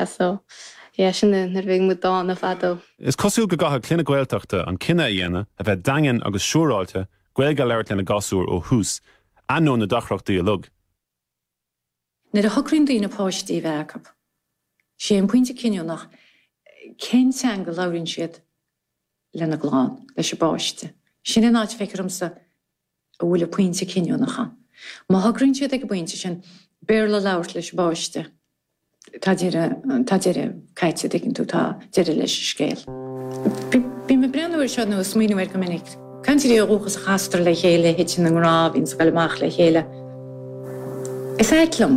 So yeah sin é nuair a bhí muid dána fadó. Is cosúil go gcaithfidh clanna Gaeltachta an cinneadh a dhéanamh a bheith daingean agus siúráilte, Gaeilge a labhairt lena ngasúir ó thús, ainneoin na deacrachtaí uilig. Nuair a shocraíonn daoine páistí a bheith acu, sé an pointe cinniúnach cén teanga a labhraíonn siad lena gclann, leis an bpáiste. Sin an áit a bhfeictear domsa a bhfuil an pointe cinniúnach ann. Má shocraíonn siad ag an bpointe sin Béarla a labhairt leis an bpáiste, tá deireadh, tá deireadh caite, tuigeann tú, tá deireadh leis an scéal. Bím ag breathnú air seo nó ag smaoineamh air go minic. Cainteoirí ó dhúchas a chastar le chéile, a thiteann i ngrá, a bhíonns ag goil amach le chéile. Is ait liom.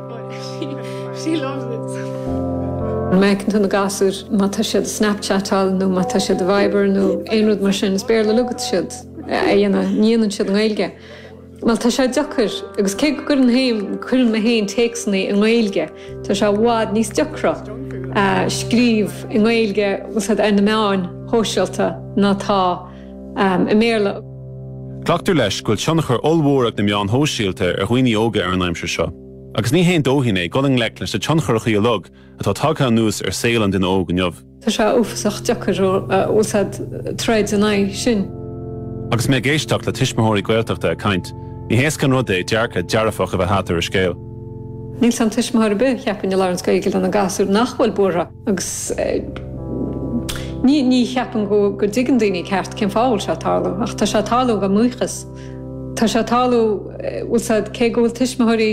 She loves it. Má fheiceann tú na gasúir má tá siad ag snapchatáil nó má tá siad a Viber nó aon rud mar sin, is Béarla uilig atá siad a dhéanamh, ní dhéanann siad i nGaeilge. Bhuel, tá sé deacair, agus cé go gcuireann fhéin, cuireann mé fhéin téacsanna i nGaeilge, tá sé i bhfad níos deacra scríobh i nGaeilge, bhfuil a fhios a'd, ar na meáin shóisialta ná tá, i mBéarla. Glactar leis go bhfuil tionchar ollmhór ag na meáin shóisialta ar dhaoine óga ar an aimsir seo, agus ní haon dóithín é dul i ngleic leis na tioncharachaí uilig atá tagtha anuas ar saol an duine óg inniu. Tá sé uafásach deacair, bhfuil a fhios a'd, troid in aghaidh sin. Agus mé ag éisteacht le tuismitheoirí Gaeltachta ag caint, ní héasca an rud é dearcadh dearfach a bheith agat ar an scéal. Níl a fhios a'm tuismitheoir ar bith cheapfainn, a labhraíonns Gaeilge lena gasúir nach bhfuil buartha. Agus ní cheapaim go dtuigeann daoine ceart cén fáth a bhfuil sé ag tarlú, ach tá sé ag tarlú dhá mbuíochas. Tá sé ag tarlú, bhfuil a fhios a'd, cé go bhfuil tuismitheoirí,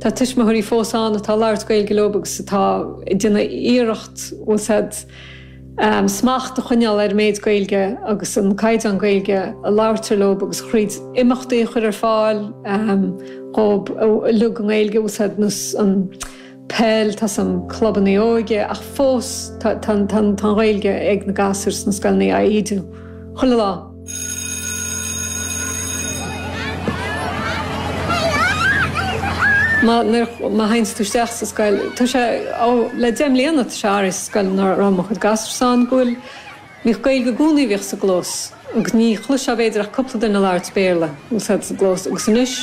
tá tuismitheoirí fós ann atá ag labhairt Gaeilge leob agus atá ag déanamh iarracht, bhfuil a fhios a'd, smacht a choinneáil ar an méid Gaeilge agus an caighdeán Gaeilge a labhairtear leob agus thríd imeachtaí a chur ar fáil dhóib uilig i nGaeilge, bhfuil a fhios a'd, nós an. peil, tá a fhios a'm, clubannaí óige ach fós tá an Ghaeilge ag na gasúir sna scoileanna ag ídiú chuile lá. Má théanns tú isteach sa scoil, tá sé, ó, le deich mbliana tá sé athraithe sa scoil ina raibh mo chuid gasúrsa ann, go bhfuil Bhíodh Gaeilge i gcónaí a bhíodh sa gclós agus ní chloisfeá b'fhéidir ach cúpla duine ag labhairt Béarla, bhfuil a fhios a'd, sa gclós agus anois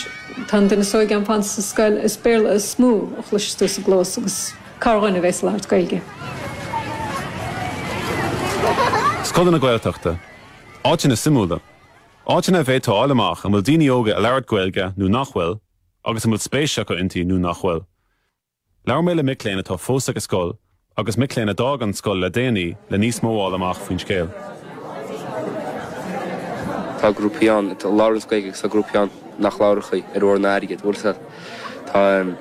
tá an duine is óige a'm fanta sa scoil is Béarla is mó a chloiseas tú sa gclós agus corrdhuine a bhéas ag labhairt Gaeilge. Scoileanna Gaeltachta. Áiteanna suimiúla. Áiteanna a bhféadfá a fháil amach an bhfuil daoine óga ag labhairt Gaeilge nó nach bhfuil agus an bhfuil spéis acu inti nó nach bhfuil. Labhair mé le mic léinn atá fós ag an scoil agus mic léinn a d'fhág an scoil le déanaí le níos mó a fháil amach faoin scéal. Tá grúpaí ann a labhraíonns Gaeilge agus tá grúpaí ann nach labhródh í ar ór ná airgead, bhuel tá, tá ehm,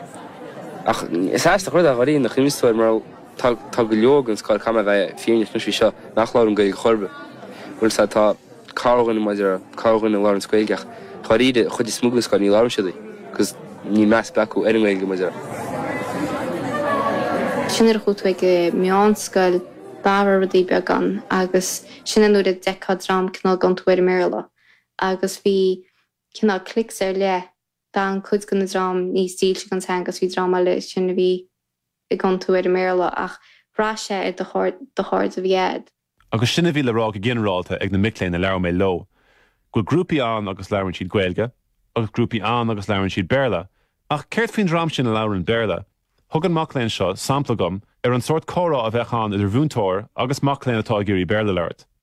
ach is aisteach an rud é dháiríre nach inste ar mar tá go leor den scoil, caithfidh mé a bheith fírinneach anois faoi seo, nach labhraíonn Gaeilge chor ar bith, bhuel tá corrdhuine maidir le corrdhuine a labhraíonns Gaeilge ach dháiríre an chuid is mó den scoil ní labhrann siad í agus níl meas ar bith acu ar an nGaeilge maidir le. sin nuair a chuaigh tú ag an meánscoil d'athraigh rudaí beagán agus sin é nuair a d'fheicfeá dream cineál ag iontú ar an mBéarla agus bhí cineál cliques ar leith D'fhan cuid den dream níos dílse don teanga agus bhí dream eile ansin a bhí ag iontú ar an mBéarla. Ach bhraith sé ar do chairde a bhí a'd. Agus sin a bhí le rá go ginearálta ag na mic léinn a labhair mé leo, go bhfuil grúpaí ann agus labhrann siad Gaeilge, agus grúpaí ann agus labhrann siad Béarla. Ach céard faoin dream sin a labhrann Béarla? Thug an mac léinn seo sampla dhom ar an sórt comhrá a bheadh ann idir mhúinteoir agus mac léinn atá ag iarraidh Béarla labhairt.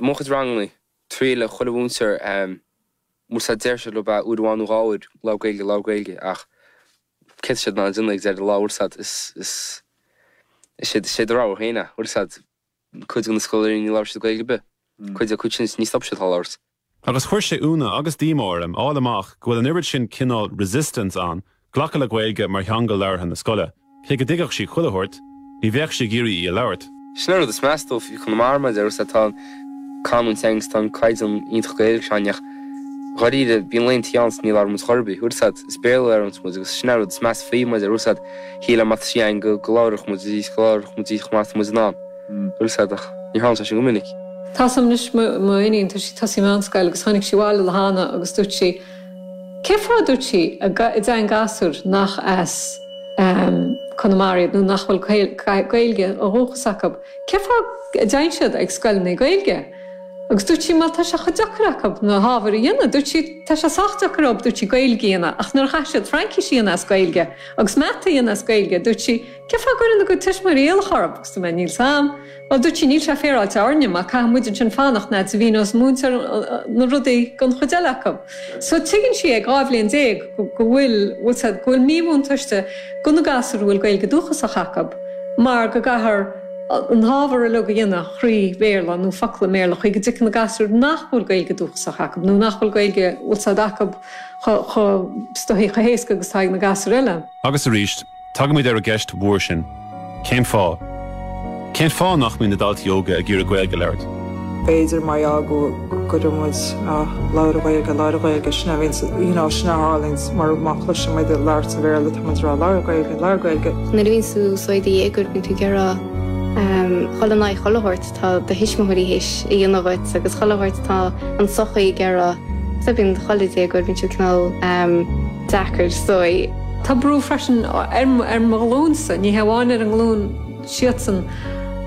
mo chuid ranganna, triaileann chuile mhúinteoir bhfuil a fhios a'd, deir siad leob uair amháin nó dhá uair, labhair Gaeilge, labhair Gaeilge ach céard tá siad in ann a dhéanamh ag deireadh an lá bhfuil a fhios a'd is, is, is é, sé do rogha féin é, bhfuil a fhios a'd, cuid go na scoláirí ní labhróidh siad Gaeilge ar bith, cuid, cuid ansin ní stopfaidh siad dhá labhairt. Agus chuir sé ionadh agus díomá orm fháil amach go bhfuil an oiread sin cineál resistance ann Glacadh le Gaeilge mar theanga labhartha na scoile, cé go dtuigfeadh sí chuile shórt, ní bheadh sí ag iarraidh í a labhairt. Sin an rud is measa dom faoi Chonamara, mar a deir tusa, tá an canúint againn agus tá an caighdeán iontach Gaeilge ann, ach dháiríre, bíonn laethanta ann is ní labhraíonn muid chor ar bith. Bhfuil a fhios a'd, is Béarla a labhraíonns muid, agus sin an rud is measa faoi, mar a deir tusa, shílfeá má tá sí againn go labhródh muid í, go labhródh muid í chomh maith is atá muid in ann. Bhfuil a fhios a'd, ach ní tharlaíonn sé sin go minic. Tá a fhios a'm anois, mo iníon, tá sí ag tosú meánscoil, agus tháinig sí abhaile an lá cheana agus dúirt sí, Cé fáth a dúirt sí a dtéann gasúir nach as Conamara iad nó nach bhfuil Gaeilge ó dhúchas acu? Cé fáth a dtéann siad ag scoileanna Gaeilge? Agus dúirt sí, bhuel, tá sé chomh deacair acu na hábhair a dhéanamh. Dúirt sí, tá sé sách deacair dhóib dúirt sí Gaeilge a dhéanamh ach nuair a chaithfidh siad Fraincis a dhéanamh as Gaeilge agus Mata a dhéanamh as Gaeilge, dúirt sí, cé fáth a gcuireann a gcuid tuismitheoirí iallach orthu? Dúirt mé, níl a fhios a'm. Bhuel, dúirt sí, níl sé féaráilte orainne mar caithfidh muid ansin fanacht fhad 's a mhíníonns an múinteoir na rudaí don chuid eile acu. So tuigeann sí ag dhá bhliain déag go bhfuil, bhfuil a fhios a'd, go bhfuil míbhuntáiste go na gasúir a bhfuil Gaeilge dúchasach acu mar go gcaithear na hábhair uilig a dhéanamh thrí Bhéarla nó focla i mBéarla chaoi go dtuigfidh na gasúir nach bhfuil Gaeilge dúchasach acu nó nach bhfuil Gaeilge, bhfuil a fhios a'd, acu chomh chomh stuifí, chomh héasca agus atá ag na gasúir eile. Agus arís, Tagaimid ar an gceist mhór sin, cén fáth? Cén fáth nach mbíonn na daltaí óga ag iarraidh Gaeilge a labhairt? b'fhéidir mar gheall go ndeireann muid labhair Gaeilge, labhair Gaeilge, sin a bhíonns, you know, sin a tharlaíonns mar má chloiseann muid ag labhairt an Bhéarla tá muid ag rá labhair Gaeilge, labhair Gaeilge. Nuair a bhíonns tú sórt i do dhéagóir bíonn tú ag iarraidh a ghoil in aghaidh chuile shórt tá do thuismitheoirí théis a dhéanamh dhuit agus chuile shórt tá an sochaí ag rá, so bíonn chuile dhéagóir bíonn siad cineál, deacair dóibh. Tá brú freisin ar mo ghlúinsa, ní hamháin ar a nglúin siadsan,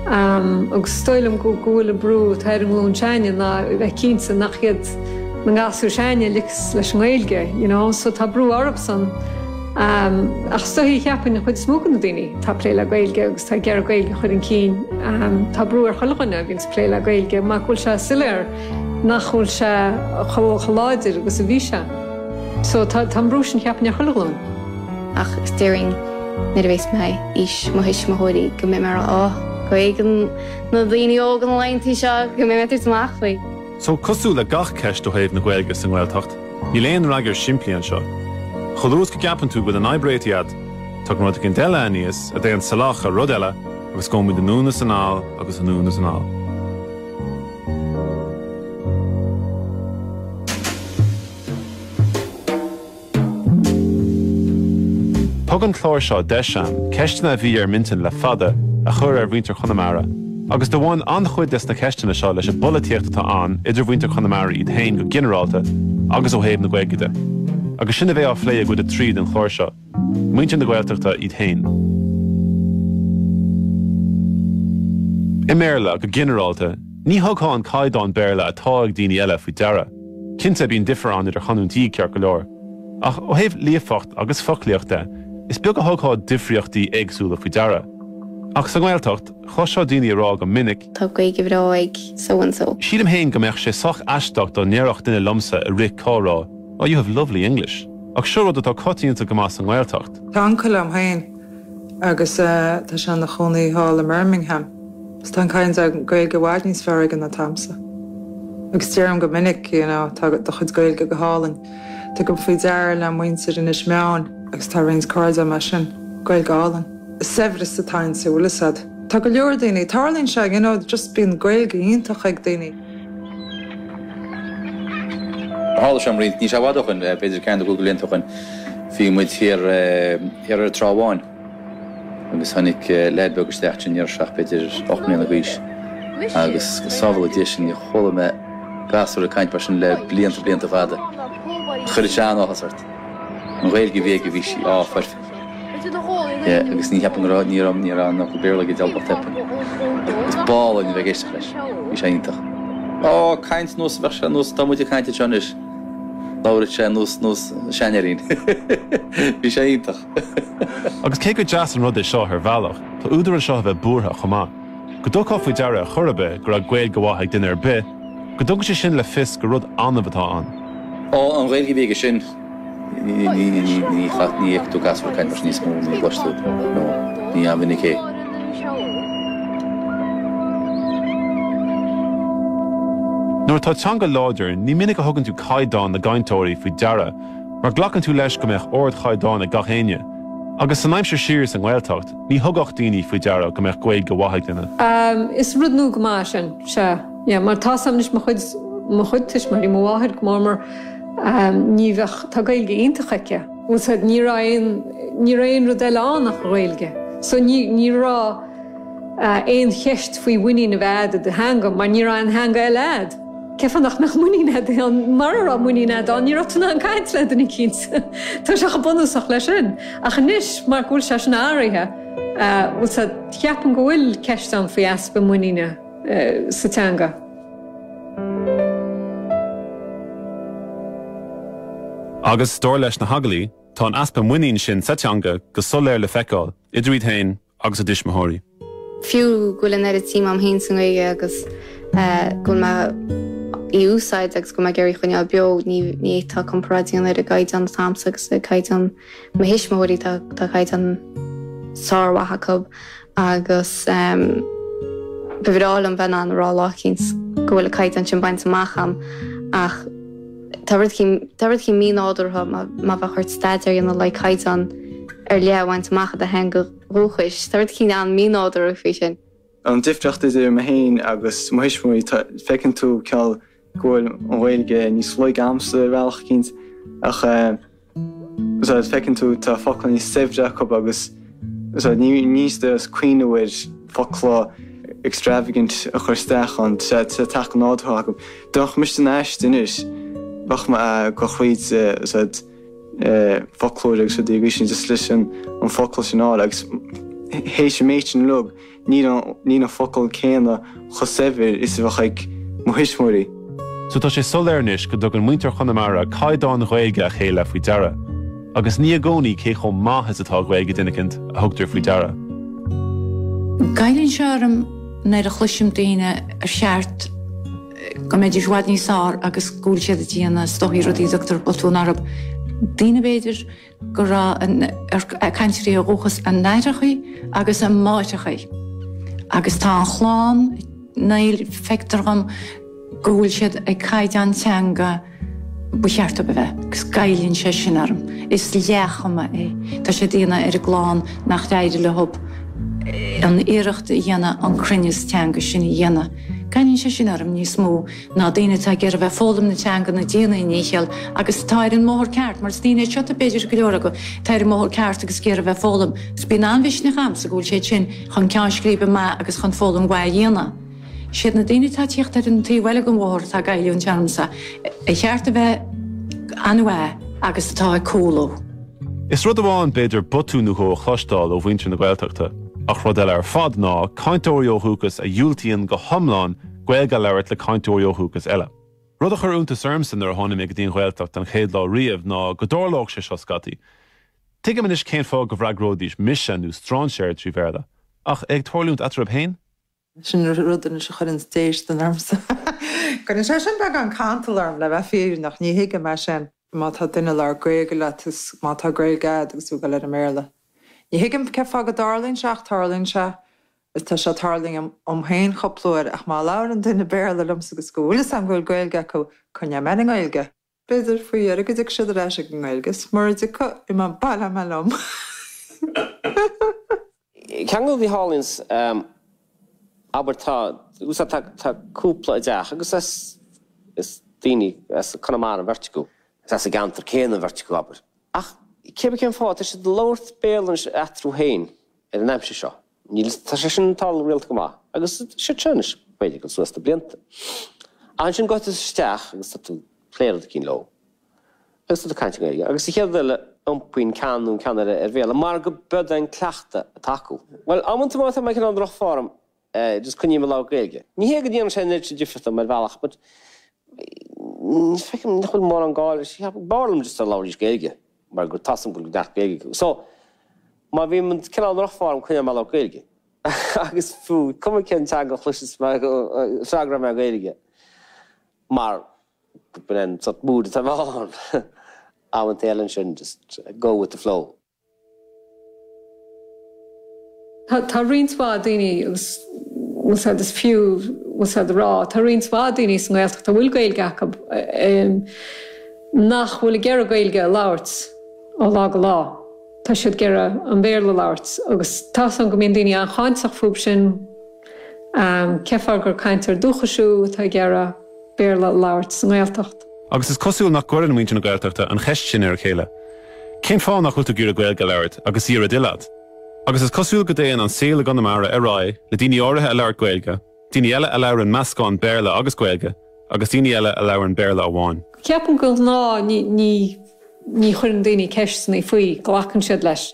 agus is dóigh liom go bhfuil an brú atá ar an nglúin s'againne ná a bheith cinnte nach iad na gasúir s'againne a ligfeas leis an nGaeilge, you know, so tá brú orthusan. Ach is dóichí cheapfainn an chuid is mó de na daoine atá ag plé le Gaeilge agus atá ag iarraidh Gaeilge a chur chun cinn, tá brú ar chuile dhuine a bhíonns ag plé le Gaeilge, mar go bhfuil sé soiléir, nach bhfuil sé chomh láidir agus a bhí sé. So tá an brú sin, cheapfainn, ar chuile ghlúin. Ach is déarfainn, nuair a bhéas mé aois mo thuismitheoirí, go mbeidh mé a rá, Áh, go bhféadann na daoine óga na laethantaí seo go mbeidh mé ag tabhairt amach faoi. So cosúil le gach ceist ó thaobh na Gaeilge sa nGaeltacht, níl aon fhreagra simplí anseo. Chomh luath is go gceapann tú go bhfuil an fhadhb réitithe a'd, tagann rud éicint eile aníos a théann salach ar rud eile agus gabhaimid anonn is anall agus anonn is anall. Thug an clár seo deis dhom ceisteanna a bhí ar m'intinn le fada a chur ar mhuintir Chonamara agus do bhain an-chuid des na ceisteanna seo leis an bpolaitíocht atá ann idir mhuintir Chonamara iad féin go ginearálta agus ó thaobh na Gaeilge de. Agus sin a bheidh á phlé i gcuid a trí den chlár seo. Muintir na Gaeltachta iad féin. I mBéarla, go ginearálta, ní thugthá an caighdeán Béarla atá ag daoine eile faoi deara. Cinnte, bíonn difear ann idir chanúintí, ceart go leor. Ach ó thaobh líofacht agus foclaíocht de, is beag a thugthá difríochtaí éagsúla faoi deara. Ach sa nGaeltacht, chloisfeá daoine ag rá go minic, Tá Gaeilge bhreá ag so and so. Sílim fhéin go mbeadh sé sách aisteach dá ndéarfadh duine liomsa i rith comhrá, Oh, you have lovely English. Ach seo rud atá coitianta go maith sa nGaeltacht. Tá uncail liom féin agus tá sé ina chónaí thall i mBirmingham agus tá an kind of Gaeilge i bhfad níos fearr aige ná atá a'msa. Agus déarfainn go minic, you know, tá do chuid Gaeilge go hálainn. Tugaim faoi deara le muintir Inis Meáin agus tá roinnt cairde agam as sin, Gaeilge álainn. saibhreas atá inti, bhfuil 'fhios a'd. Tá go leor daoine, tarlaíonn sé, you know, just bíonn Gaeilge iontach ag daoine. Tharla sé dhom roinnt, níl sé i bhfad ó shoin, b'fhéidir ceathair nó cúig de bhlianta ó shoin, bhí muid thiar ar an Trá Bháin agus tháinig leaid beag isteach ansin, déarfainn seacht, b'fhéidir ocht mbliana d'aois agus go sábhála Dia sinn níor chuala mé gasúr ag caint mar sin le blianta, blianta fada. Chuirfeadh sé an-áthas ort. An Ghaeilge a bhí aige, bhí sí, áfach, agus ní cheapaim go raibh, ní raibh, ní raibh, nach Béarla aige d'albairt cheapfainn. Is b'álainn a bheith ag éisteacht leis. Bhí sé iontach. Ó, caint, nós, bheadh sé, nós, tá muid ag caint anseo anois, labhródh sé, nós, nós, seanfhirín. Bhí sé iontach. Agus cé gur deas an rud é seo ar bhealach, tá údar anseo a bheith buartha chomh maith. Go dtugtá faoi deara ar chor ar bith go raibh Gaeilge mhaith ag duine ar bith, go dtabharfadh sé sin le fios gur rud annamh atá ann. Ó, an Ghaeilge a bhí aige sin, ní fhaigheann tú gasúr ag caint mar sin níos mó, ní chloiseann tú, nó ní an-mhinic é. Nuair atá teanga láidir, ní minic a thugann tú caighdeán na gcainteoirí faoi deara, mar glacann tú leis go mbeadh ardchaighdeán ag gach éinne, agus san aimsir siar sa nGaeltacht, Ní thugadh daoine faoi deara go mbeadh Gaeilge mhaith ag duine. Is rud nua go maith é sin, sea, yeah, mar tá 's a'm anois, mo chuid, mo chuid tuismitheoirí, mo mháthair go mór mór ní bheadh, tá Gaeilge iontach aici. Bhfuil fhios a'd, ní raibh aon, ní raibh aon rud eile ann ach Gaeilge. So ní, ní raibh aon cheist faoi mhuinín a bheith a'd i do theanga mar ní raibh aon theanga eile a'd. Cén fáth nach mbeadh muinín agat inti, mara raibh muinín agat ann, ní raibh tú in ann caint le duine eicínt. Tá sé chomh bunúsach leis sin. Ach anois, mar go bhfuil sé sin athraithe, bhfuil fhios a'd, ceapaim go bhfuil ceist ann faoi easpa muiníne sa teanga. Agus, dar leis na hagallaithe, tá an easpa muinín sin sa teanga go soiléir le feiceáil, idir iad féin, agus a dtuismitheoirí. Fiú go bhfuil an oiread sin suim a'm fhéin sa nGaeilge agus go bhfuil mé dhá húsáid agus go bhfuil mé ag iarraidh í a choinneáil beo, ní fhéadfá comparáid a dhéanamh ar an gcaighdeán atá a'msa agus ar chaighdeán mo thuismitheoirí, tá caighdeán sármhaith acu agus ba bhreá liom bheith in ann a rá lá eicínt go bhfuil an caighdeán sin bainte amach a'm ach, Tá rud eicínt mínádúrtha má bheadh ort staidéar a dhéanamh le caighdeán ar leith a bhaint amach i do theanga dhúchais. Tá rud eicínt an-mhínádúrtha faoi sin. An difríocht idir mé féin agus mo thuismitheoirí, feiceann tú, ní hé go bhfuil an Ghaeilge níos laige agamsa ar bhealach eicínt, ach. Bhfuil fhios a'd, feiceann tú, tá focla níos saibhre acu agus níl siad ag cuimhneamh ar focla extravagant a chur isteach ann, tá sé ag teacht nádúrtha acu. Dá mbeadh mise in aiste anois, bheadh mé ag gabháil chuig foclóir agus rud eicínt, just leis an bhfocal sin a fháil, agus théis an méid sin uilig, Níl an focal céanna chomh saibhir is a bheadh ag mo thuismitheoirí. So tá sé soiléir anois go dtugann muintir Chonamara caighdeáin Ghaeilge a chéile faoi deara. Agus ní i gcónaí cé chomh maith is atá Gaeilge duine eicínt a thugtar faoi deara. Goilleann sé orm nuair a chloisim daoine ar cheart go mbeidís i bhfad níos fearr agus go bhfuil siad ag déanamh is dóigh rudaí a dtabharfá botún orthu. Daoine, b'fhéidir. go raibh an cainteoirí ó dhúchas a n-aithreachaí agus a máithreachaí agus tá an chlann, níl, feictear dhom go bhfuil siad ag caighdeán teanga ba cheart dóibh a bheith agus goilleann sé sin orm. Is leathchuma é. Tá siad ag déanamh ar a gclann nach féidir leo an iarracht a dhéanamh an cruinneas teanga sin a dhéanamh. Goilleann sé sin orm níos mó. ná daoine atá ag iarraidh a bheith ag foghlaim na teanga nó ag déanamh a ndícheall agus atá ar an mbóthar ceart, mar is daoine iad seo, b'fhéidir, go leor acu, atá ar an mbóthar ceart agus ag iarraidh a bheith ag foghlaim. Agus bíonn an-mhisneach agamsa go bhfuil siad sin chun ceann scríbe maith agus chun foghlaim mhaith a dhéanamh. Siad na daoine atá ag tíocht ar an taobh eile den bhóthar atá ag goilliúint ormsa, ba cheart a bheith an-mhaith agus atá ag cúlú. Is rud amháin, b'fhéidir, botún nó dhó a chloisteáil ó mhuintir na Gaeltachta ach rud eile ar fad ná cainteoirí ó dhúchas a dhiúltaíonn go hiomlán Gaeilge a labhairt le cainteoirí ó dhúchas eile. Rud a chuir iontas ormsa nuair a tháinig mé go dtí an Ghaeltacht an chéad lá riamh ná go dtarlódh sé seo scaití. Tuigim anois cén fáth go bhfreagróidís mise nó strainséir trí Bhéarla. Ach é ag tarlúint eatarthu féin? Sin an rud anois a chuireanns déistean ormsa. Cuireann sé sin beagán cantail orm, le bheith fírinneach. Ní thuigim é sin. Má tá duine ag labhairt Gaeilge leat is má tá Gaeilge agat agus tú ag dul ar an mBéarla. Ní thuigim cén fáth go dtarlaíonn sé ach tarlaíonn sé. Is tá sé tarlaithe dhom féin cúpla uair ach má labhrann duine Béarla liomsa agus go bhfuil 'fhios agam go bhfuil Gaeilge acu, coinneoidh mé ar an nGaeilge. B'fhéidir, faoi dheireadh, go dtiocfaidh siad ar ais ag an nGaeilge is mura dtiocfaidh, imeoidh mé, baileoidh mé liom. Ceann eile a bhí, a tharlaíonns, abair tá 'fhios agat, tá cúpla i dteach agus is, is daoine as Conamara an bheirt acu, is as an gceantar céanna an bheirt acu, abair. Ach cébí cén fáth, tá siad ag labhairt Béarla anois eatarthu féin ar an aimsir seo. Níl, tá sé sin ag tarlú rialta go maith agus siad seo anois b'fhéidir go suas sna blianta. Ach ansin gabhfaidh tú isteach agus tá tú ag plé rud eicínt leo. Agus tú ag caint i nGaeilge. Agus sa chéad rud eile iompaíonn ceann nó ceann eile ar Bhéarla mar go b'iod é an cleachtadh atá acu. Bhuel, amanta má tá mé cineál i ndroch-form just coinneoidh mé ag labhairt Gaeilge. Ní hé go ndéanann sé an oiread sin difríocht dom ar bhealach but ní feicim nach bhfuil mórán gá leis. B'fhearr liom just dá labhróidís Gaeilge. mar tá 'fhios a'm go raibh neart Gaeilge acu. So, má bhím cineál i ndroch-form, coinneoidh mé ag labhairt Gaeilge. Agus fiú, cuma cén teanga a chloiseas mé, freagróidh mé Gaeilge. Mar go b'in é an sort mood atá mé ann. Amantaí eile ansin, just go with the flow. Tá roinnt mhaith daoine, agus is fiú a rá, tá roinnt mhaith daoine sa nGaeltacht a bhfuil Gaeilge acu nach bhfuil ag iarraidh Gaeilge a labhairt ó lá go lá. Tá siad ag iarraidh an Béarla a labhairt agus tá 'fhios a'm go mbíonn daoine an-cháinteach fúthub sin, cén fáth gur cainteoir dúchais thú atá ag iarraidh, Béarla a labhairt sa nGaeltacht. Agus is cosúil nach gcuireann muintir na Gaeltachta an cheist sin ar a chéile, Cén fáth nach bhfuil tú ag iarraidh Gaeilge a labhairt agus í ar a dtoil agat? Agus is cosúil go dtéann an saol i gConamara ar aghaidh le daoine áirithe ag labhairt Gaeilge, daoine eile a labhrann meascán Béarla agus Gaeilge, agus daoine eile a labhrann Béarla amháin. Ceapaim go ghnáth ní chuireann daoine ceisteanna faoi, glacann siad leis.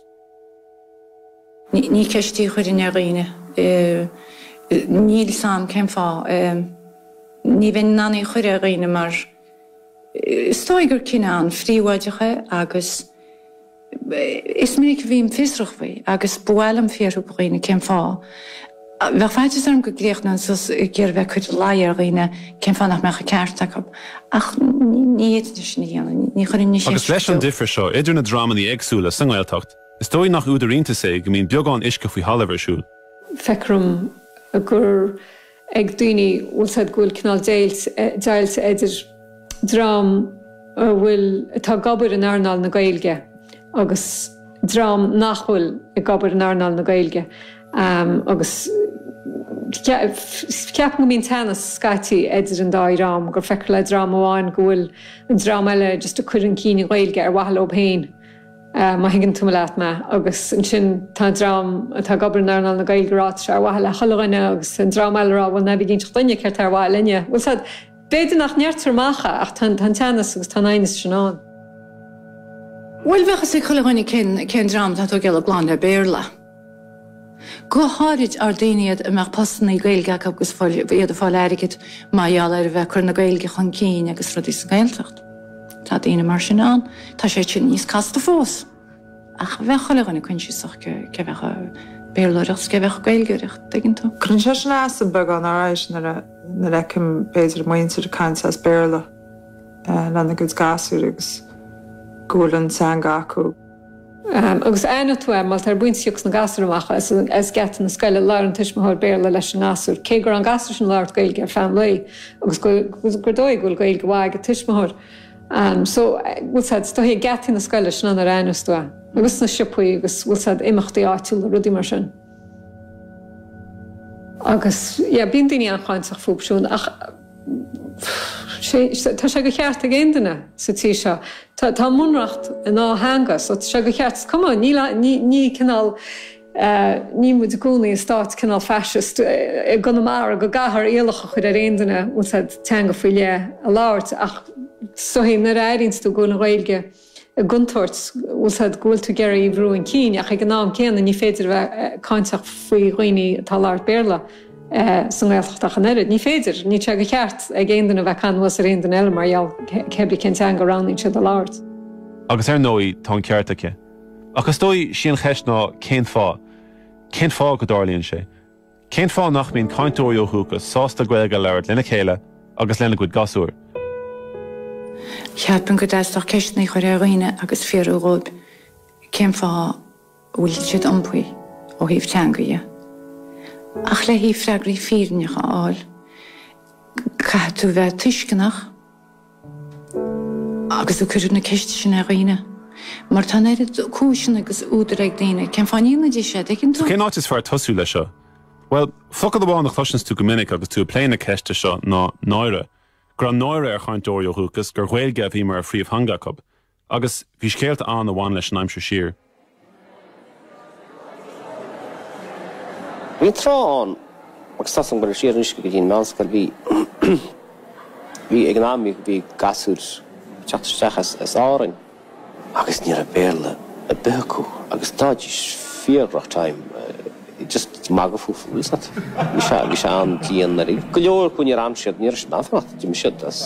Ní ceist í a chuirfinn ar dhaoine. Níl 's a'm cén fáth. Ní bheinn in ann í a chur ar dhaoine mar is dóigh gur cinneadh an-phríobháideach é agus is minic a bhím fiosrach faoi agus ba mhaith liom fiarthú go dhaoine cén fáth. Bheadh faitíos orm go gcríochnóinn suas ag iarraidh bheith ag cur ina luí ar dhaoine cén fáth nach mbeadh an ceart acu, ach ní, ní chuirfinn na ceisteanna. Agus leis an difear seo idir na dreamanna éagsúla sa nGaeltacht, is dóigh nach údar iontais é go mbíonn beagán uisce faoi thalamh ar siúl. Feicear dhom gur ag daoine bhfuil 's a'd go bhfuil cineál deighilt eidir dream a bhfuil atá ag obair in earnáil na Gaeilge agus dream nach bhfuil ag obair in earnáil na Gaeilge. Am agus ceapaim go mbíonn teannas scaití idir an dá dhream, gur feicear le dream amháin go bhfuil an dream eile just ag cur chun cinn na Gaeilge ar mhaithe leob féin, má thuigeann tú mé, leat mé. Agus ansin tá an dream atá ag obair in earnáil na Gaeilge ag rá, tá sé ar mhaithe le chuile dhuine agus an dream eile ag rá, bhuel, ná bí ag inseacht dhuinne céard tá ar mhaithe linne. Bhuel, sea, b'fhéidir nach ndeirtear amach é ach tá an teannas agus tá an aighneas sin ann. Bhuel, bheadh fhios ag chuile dhuine cén dream atá ag tógáil a gclann le Béarla. Go háirid, ar daoine iad a mbeadh postannaí Gaeilge acu agus iad ag fáil airgid mar gheall ar a bheith ag cur na Gaeilge chun cinn agus rudaí sa nGaeltacht. Tá daoine mar sin ann. Tá sé sin níos casta fós. Ach bheadh chuile dhuine coinsiasach cé a bheadh ag Béarlóireacht is cé a bheadh ag Gaeilgeoireacht, an dtuigeann tú? Cuireann sé sin as dhom beagán alright nuair a fheicim, b'fhéidir, muintir ag caint as Béarla lena gcuid gasúir agus go bhfuil an teanga acu. Agus aithneoidh tú é mar tá, ar an bpointe a thiocfas na gasúir amach as geata na scoile, labhróidh an tuismitheoir Béarla leis an ngasúr, cé go raibh an gasúr sin ag labhairt Gaeilge ar feadh an lae agus gur dóigh go bhfuil Gaeilge mhaith ag an tuismitheoir. So, bhfuil 's a'd, is dóichí, ag geataí na scoile, sin an uair a aithneos tú é. Agus sna siopaí agus, bhfuil 's a'd, imeachtaí áitiúla, rudaí mar sin. Agus, yeah, bíonn daoine an-cháinteach fúb siúd ach. Tá sé go cheart ag aon duine sa tír seo. Tá ár mBunreacht in dhá theanga so tá sé go cheart. Is cuma, níl a, ní, ní cineál, níl muid inár gcónaí i stát cineál fascist i gConamara go gcaithfear iallach a chur ar aon duine bhfuil 's a'd, teanga faoi leith a labhairt ach is dóichí nuair a airíonns tú go bhfuil an Ghaeilge i gcontúirt, bhfuil 'fhios a'd, go bhfuil tú ag iarraidh í a bhrú un cinn ach ag an am céanna ní féidir a bheith cáinteach faoi dhaoine atá ag labhairt Béarla sa nGaeltacht ach an oiread. Ní féidir, níl sé de cheart ag aon duine a bheith ag caitheamh anuas ar aon duine eile mar gheall cé ar bith cén teanga a roghnaíonn siad a labhairt. Agus ar ndóigh tá an ceart aici. Ach is dóigh, sí an cheist ná cén fáth? Cén fáth go dtarlaíonn sé? Cén fáth nach mbíonn cainteoirí ó dhúchas sásta Gaeilge a labhairt lena chéile agus lena gcuid gasúr? Cheapfainn go dteastódh ceisteanna a chur ar dhaoine agus fiafraí dhóibh cén fáth a bhfuil siad iompaithe ó thaobh teanga dhe. Ach le haghaidh freagraí fírinneacha a fháil, caithfidh tú bheith tuisceanach. Agus ag cur na ceiste sin ar dhaoine. Mar tá an oiread cúiseanna agus údair ag daoine cén fáth a ndéanfaidís sé, tuigeann tú? So cén áit is fearr tosú leis seo? Bhuel, focal amháin a chloiseanns tú go minic agus tú ag plé na ceiste seo ná 'náire'. Go raibh náire ar chainteoirí ó dhúchas gur Ghaeilge a bhí mar phríomhtheanga acu. Agus bhí scéalta ann a bhain leis an aimsir siar. Bhí trá ann agus tá sé ag goil siar anois go dtí an mheánscoil. Bhí, bhí, ag an am bhí gasúir ag teacht isteach as, as Árainn agus ní raibh Béarla ar bith acu agus d'fhaighidís fíor rough time. Just magadh fúthu bhfuil 'fhios a'd bhí sé bhí sé an-dian dháiríre. Go leor acu níor fhan siad níor fhan siad in ann fanacht d'imigh siad as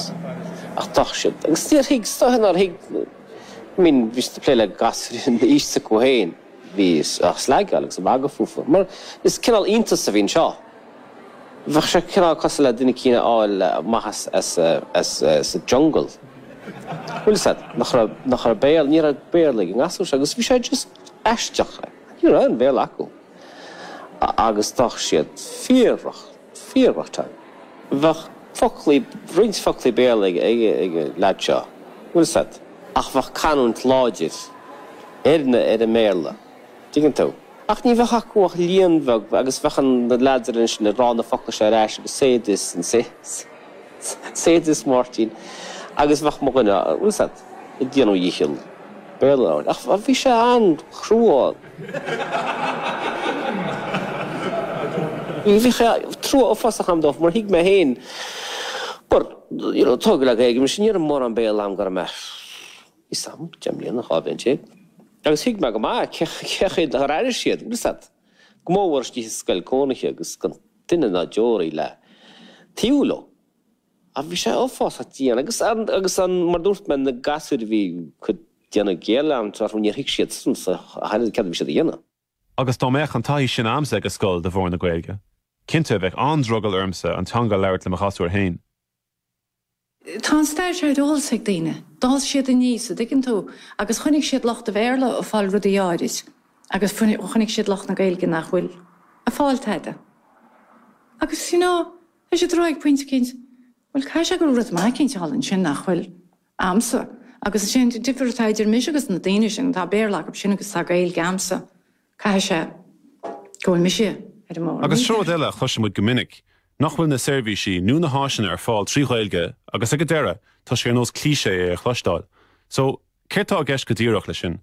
ach d'fhág siad agus níor thuig so nár thuig I mean bhí siad ag plé le gasúir in aois acu féin bhí á sleágáil agus a mhagadh fúthu mar is cineál iontas a bhí anseo bheadh sé cineál cosúil le duine eicínt a fháil amach as as as as a jungle bhfuil 'fhios a'd nach raibh nach raibh béal ní raibh béarla ag an ngasúr seo agus bhí sé just aisteach. Ní raibh aon Bhéarla acu agus fuair siad fíor rough, fíor rough time. Bheadh foclaí, roinnt foclaí Béarla ag an leaid seo, bhfuil 'fhios a'd, ach bheadh canúint láidir Árann ar an mBéarla, tuigeann tú. Ach ní bheadh acu ach líon bheag agus bheadh na leaids ansin ag rá na focla seo ar ais agus says. says Máirtín, Agus bheadh mo dhuine, bhfuil 'fhios a'd, ag déanamh a dhícheall Béarla a labhairt ach bhí sé an-chrua ann. Bhí trua uafásach a'm dóibh mar thuig mé féin mar, you know, tógadh le Gaeilge mise, ní raibh mórán Béarla agam go raibh mé, níl 'fhios a'm, deich mbliana, dhá bhliain déag agus thuig mé go maith cé, cé chaoi ar airigh siad, bhfuil 'fhios a'd, go mór mhór istigh i scoil chónaithe agus gan. duine ná deoraí le taobh leo. Ach bhí sé uafásach dian agus, agus an, mar a dúirt mé, na gasúir a bhí dhá dhéanamh géarleanúint orthu, níor thuig siad sa deireadh céard a bhí siad a dhéanamh. Agus dá mbeadh an taithí sin a'msa ag an scoil de bharr na Gaeilge, cinnte, bheadh an-drogall ormsa an teanga a labhairt le mo ghasúir fhéin. Tá an stair seo ar eolas ag daoine. D'fhás siad aníos, a' dtuigeann tú, agus chonaic siad lucht an Bhéarla a' fáil rudaí áirid agus chonaic siad lucht na Gaeilge nach bhfuil a' fáil tada. Agus, you know, thoisigh siad a rá ag pointe eicínt, bhuel, caithfidh sé go raibh rud maith eicínt thall ansin nach bhfuil a'msa. Agus is é an difear atá idir mise agus na daoine sin, tá Béarla acub sin agus tá Gaeilge a'msa, caithfidh sé go bhfuil mise ar an mbóthar mícheart. Agus rud eile a chloisimid go minic, nach bhfuil na seirbhísí nó na háiseanna ar fáil trí Ghaeilge agus ag an deireadh tá sé ar nós cliché é a chloisteáil. So, céard tá i gceist go díreach leis sin?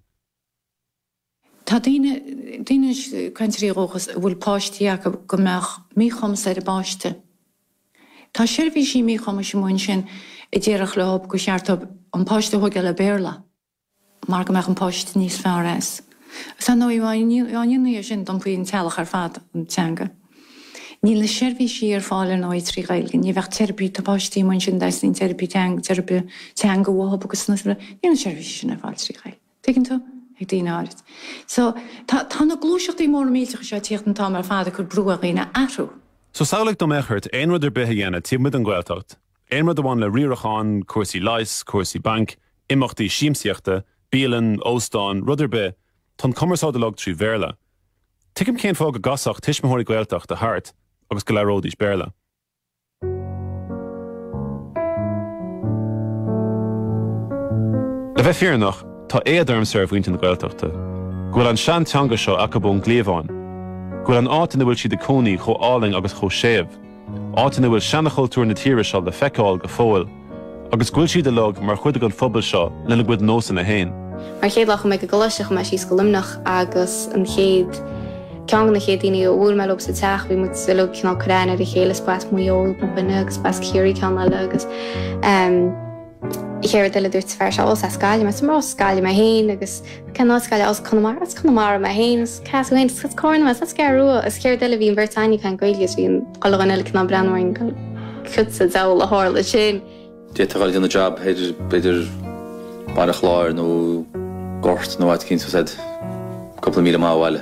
Tá daoine, daoine, cainteoirí dúchais a bhfuil páistí acu go mbeadh míchumas ar a bpáiste. Tá seirbhísí míchumais amuigh ansin a déarfadh leo gur cheart dóibh an páiste a thógáil le Béarla. mar go mbeadh an páiste níos fearr as. Is ar ndóigh amháin ina dhiaidh sin, d'iompaigh an teaghlach ar fad chun na teanga. Níl na seirbhísí ar fáil ar ndóigh trí Ghaeilge, ní bheadh teiripí, tá páistí amuigh ansin a dteastaíonn teiripí teanga, teiripe teanga uathub agus níl na seirbhísí sin ar fáil trí Ghaeilge, tuigeann tú? ag daoine áirid. So, tá tá na gluaiseachtaí móra millteacha seo ag tíocht an t-am ar fad ag cur brú ar dhaoine athrú. So, samhlaigh dá mbeadh ort aon rud ar bith a dhéanamh taobh amuigh den Ghaeltacht, Aon rud a bhain le riarachán, cúrsaí leighis, cúrsaí bainc, imeachtaí siamsaíochta, bialann, óstán, rud ar bith, tá an cumarsáid uilig trí Bhéarla. Tuigim cén fáth go gcasfadh tuismitheoirí Gaeltachta thart agus go labhróidís Béarla. Le bheith fírinneach, tá éad ormsa ar mhuintir na Gaeltachta, go bhfuil an seanteanga seo acub ón gcliabhán, go bhfuil an áit ina bhfuil siad ag cónaí chomh álainn agus chomh séimh. áit ina bhfuil seanchultúr na tíre seo le feiceáil go fóill agus go bhfuil siad uilig mar chuid den phobal seo lena gcuid nósanna féin. Mar an chéad lá a chuaigh mé ag an gcoláiste chuaigh mé síos go Luimneach agus an chéad, ceann de na chéad daoine a bhuail mé leob sa teach bhí muid uilig cineál ag cur aithne ar a chéile, is b'as Maigh Eo mo dhuine agus b'as Ciarraí ceann eile agus ehm, Chéad rud eile dúirt an fear seo, ó, as Gaillimh mé, is mar as Gaillimh mé féin agus cén áit as Gaillimh? Ó, as Conamara, as Conamara mé féin, cé as thú féin, is as Carna mé, is as an gCeathrú Rua agus chéad rud eile bhí an bheirt a'inn ag caint Gaeilge agus bhí chuile dhuine eile cineál breathnú orainn, cad sa diabhal a tharla ansin. D'fhéadfá dhul ag déanamh jab thoir b'fhéidir Baile Chláir nó Gort nó áit eicínt, tá's a'd, cúpla míle maith ó bhaile.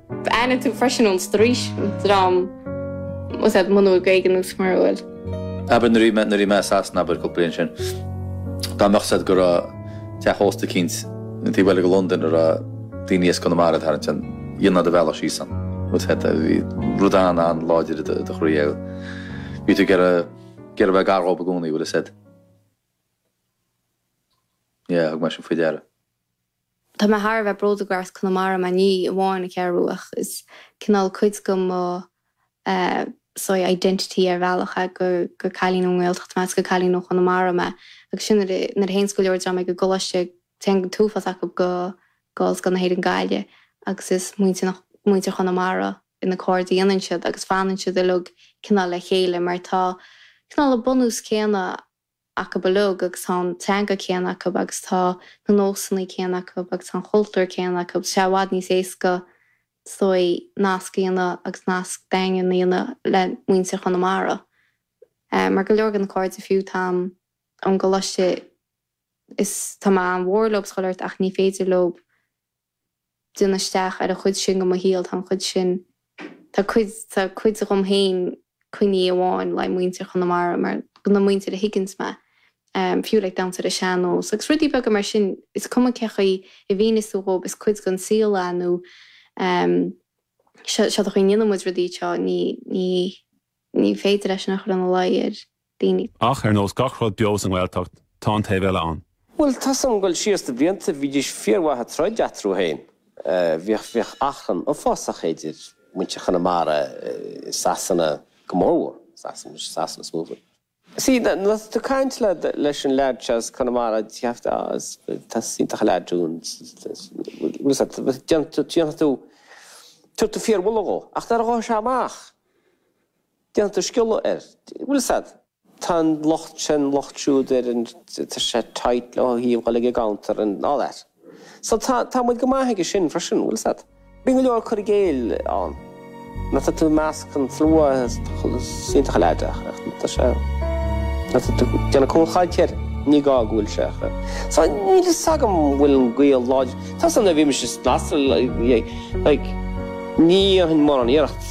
Aithníonn tú freisin ón straois, an dream is é mo nó Gaeilge nó mara bhfuil. Abair nuair a bhí mé i Sasana abair cúpla bliain ó shin, dá mbeadh 'fhios a'd go raibh teach ósta eicínt an taobh eile de Londain a raibh daoine as Conamara ag tarraingt ann, dhéanfá do bhealach síos ann. Bhfuil 'fhios a'd, bhí rud an-an-láidir i do chroí agat. Bhí tú ag iarraidh, ag iarraidh a bheith gar dhóibh i gcónaí, bhfuil 'fhios a'd. Yeah, thug mé sin faoi deara. Tá mé thar a bheith bródúil gur as Conamara mé, ní amháin an Cheathrú Rua, ach is cineál cuid de mo sorry, identity ar bhealach é gur cailín ón nGaeltacht mé agus gur cailín ó Chonamara mé agus sin nuair a théanns go leor den dream ag an gcoláiste téann an t-uafás acu go go Ollscoil na hÉireann Gaillimh agus is muintir muintir Chonamara na cairde a dhéanann siad agus fanann siad uilig cineál le chéile mar tá cineál an bunús céanna acu uilig agus tá an teanga céanna acu agus tá na nósanna céanna acu agus tá an chultúr céanna acu, tá sé i bhfad níos éasca, is dóigh, nasc a dhéanamh agus nasc daingean a dhéanamh le muintir Chonamara. Mar go leor de na cairde fiú, atá agam ón gcoláiste is tá mé an-mhór leob is chuile shórt, ach ní féidir leob. tiúnáil isteach ar an chuid sin de mo shaol, tá an chuid sin, tá cuid, tá cuid dhom féin, coinnithe amháin le muintir Chonamara, mar go na muintir a thuigeanns mé, fiú like damhsa ar an sean-nós, agus rudaí beaga mar sin, is cuma cé chaoi a mhíneos tú dhóibh, is cuid den saol é, nó seo, seo é an chaoi a ndéanann muid rudaí seo, ní, ní, ní féidir é sin a chur ina luí ar daoine. Ach ar nós gach rud beo sa nGaeltacht, tá an taobh eile ann. Bhuel, tá a fhios agam ag dul síos na blianta, bhídís fíormhaith ag troid eatarthu féin. Bhíodh achrann uafásach idir muintir Chonamara i Sasana, go mórmhór Sasana, i Sasana is mó a bhfuil. Sea, nuair atá tú ag caint leis an leaid seo as Conamara, déarfaidh tú, á, tá, is iontach an leaid thú, bhfuil 'fhios a'd, déanfaidh tú, dhéanfaidh tú, tabharfaidh tú fíormholadh dhó. Ach nuair a ghabhfas sé amach. Déanfaidh tú sciolladh air. Bhfuil 'fhios a'd, tá an locht sin, locht siúd air, tá sé tight le híomhá uilig i gceantar and all that. So tá, tá muid go maith aige sin freisin, bhfuil 'fhios a'd. Bíonn go leor cur i gcéill ann. Nuair atá tú i measc an tslua, is iontach an leaid é, ach nuair atá sé, nuair atá tú, ag déanamh cúlchaint air, ní gá go bhfuil sé. So níl fhios agam an bhfuil an gaol láidir. Tá a fhios agam nuair a bhí mise, like, ní dhéanfainn mórán iarracht.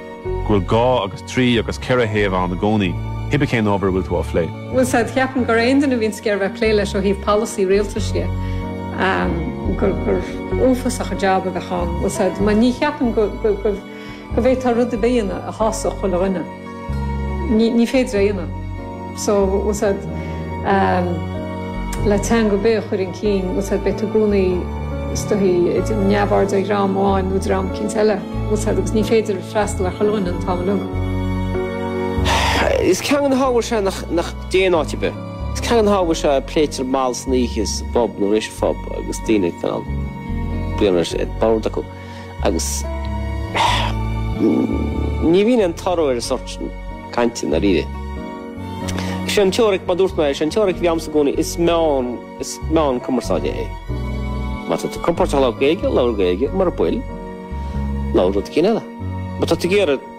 go bhfuil dhá agus trí agus ceithre thaobh ann i gcónaí, cibé cén ábhar a bhfuil tú á phlé. Bhfuil 'fhios a'd, ceapaim gur aon duine a bhíonns ag iarraidh bheith ag plé leis ó thaobh polasaí rialtais de, gur gur uafásach an jab a bheadh ann. Bhfuil 'fhios a'd, mar ní cheapaim go go bhféadfá rud ar bith a dhéanamh a shásódh chuile dhuine. Ní ní féidir é a dhéanamh. so bhfuil 'fhios a'd le teanga ar bith a chur chun cinn, bhfuil 'fhios a'd beidh tú i gcónaí is dóichí neamhaird ar dhream amháin nó dream eicínt eile, bhfuil 'fhios a'd agus ní féidir freastal ar chuile dhuine an t-am uilig. Is ceann de na hábhair seo nach dtéann áit ar bith. Is ceann de na hábhair seo a phléitear mall san oíche sa bpub nó tar éis an phub agus daoine cineál braon ar bord acu. agus ní bhíonn an toradh ar an sórt sin cainte i ndáiríre. Is é an teoiric, mar dúirt mé, is é an teoiric a bhí a'msa i gcónaí, is meán, is meán cumarsáide é. Má tá tú compordach ag labhairt Gaeilge, labhair Gaeilge, mura bfuil, labhair rud eicínt eile. Má tá tú ag iarraidh.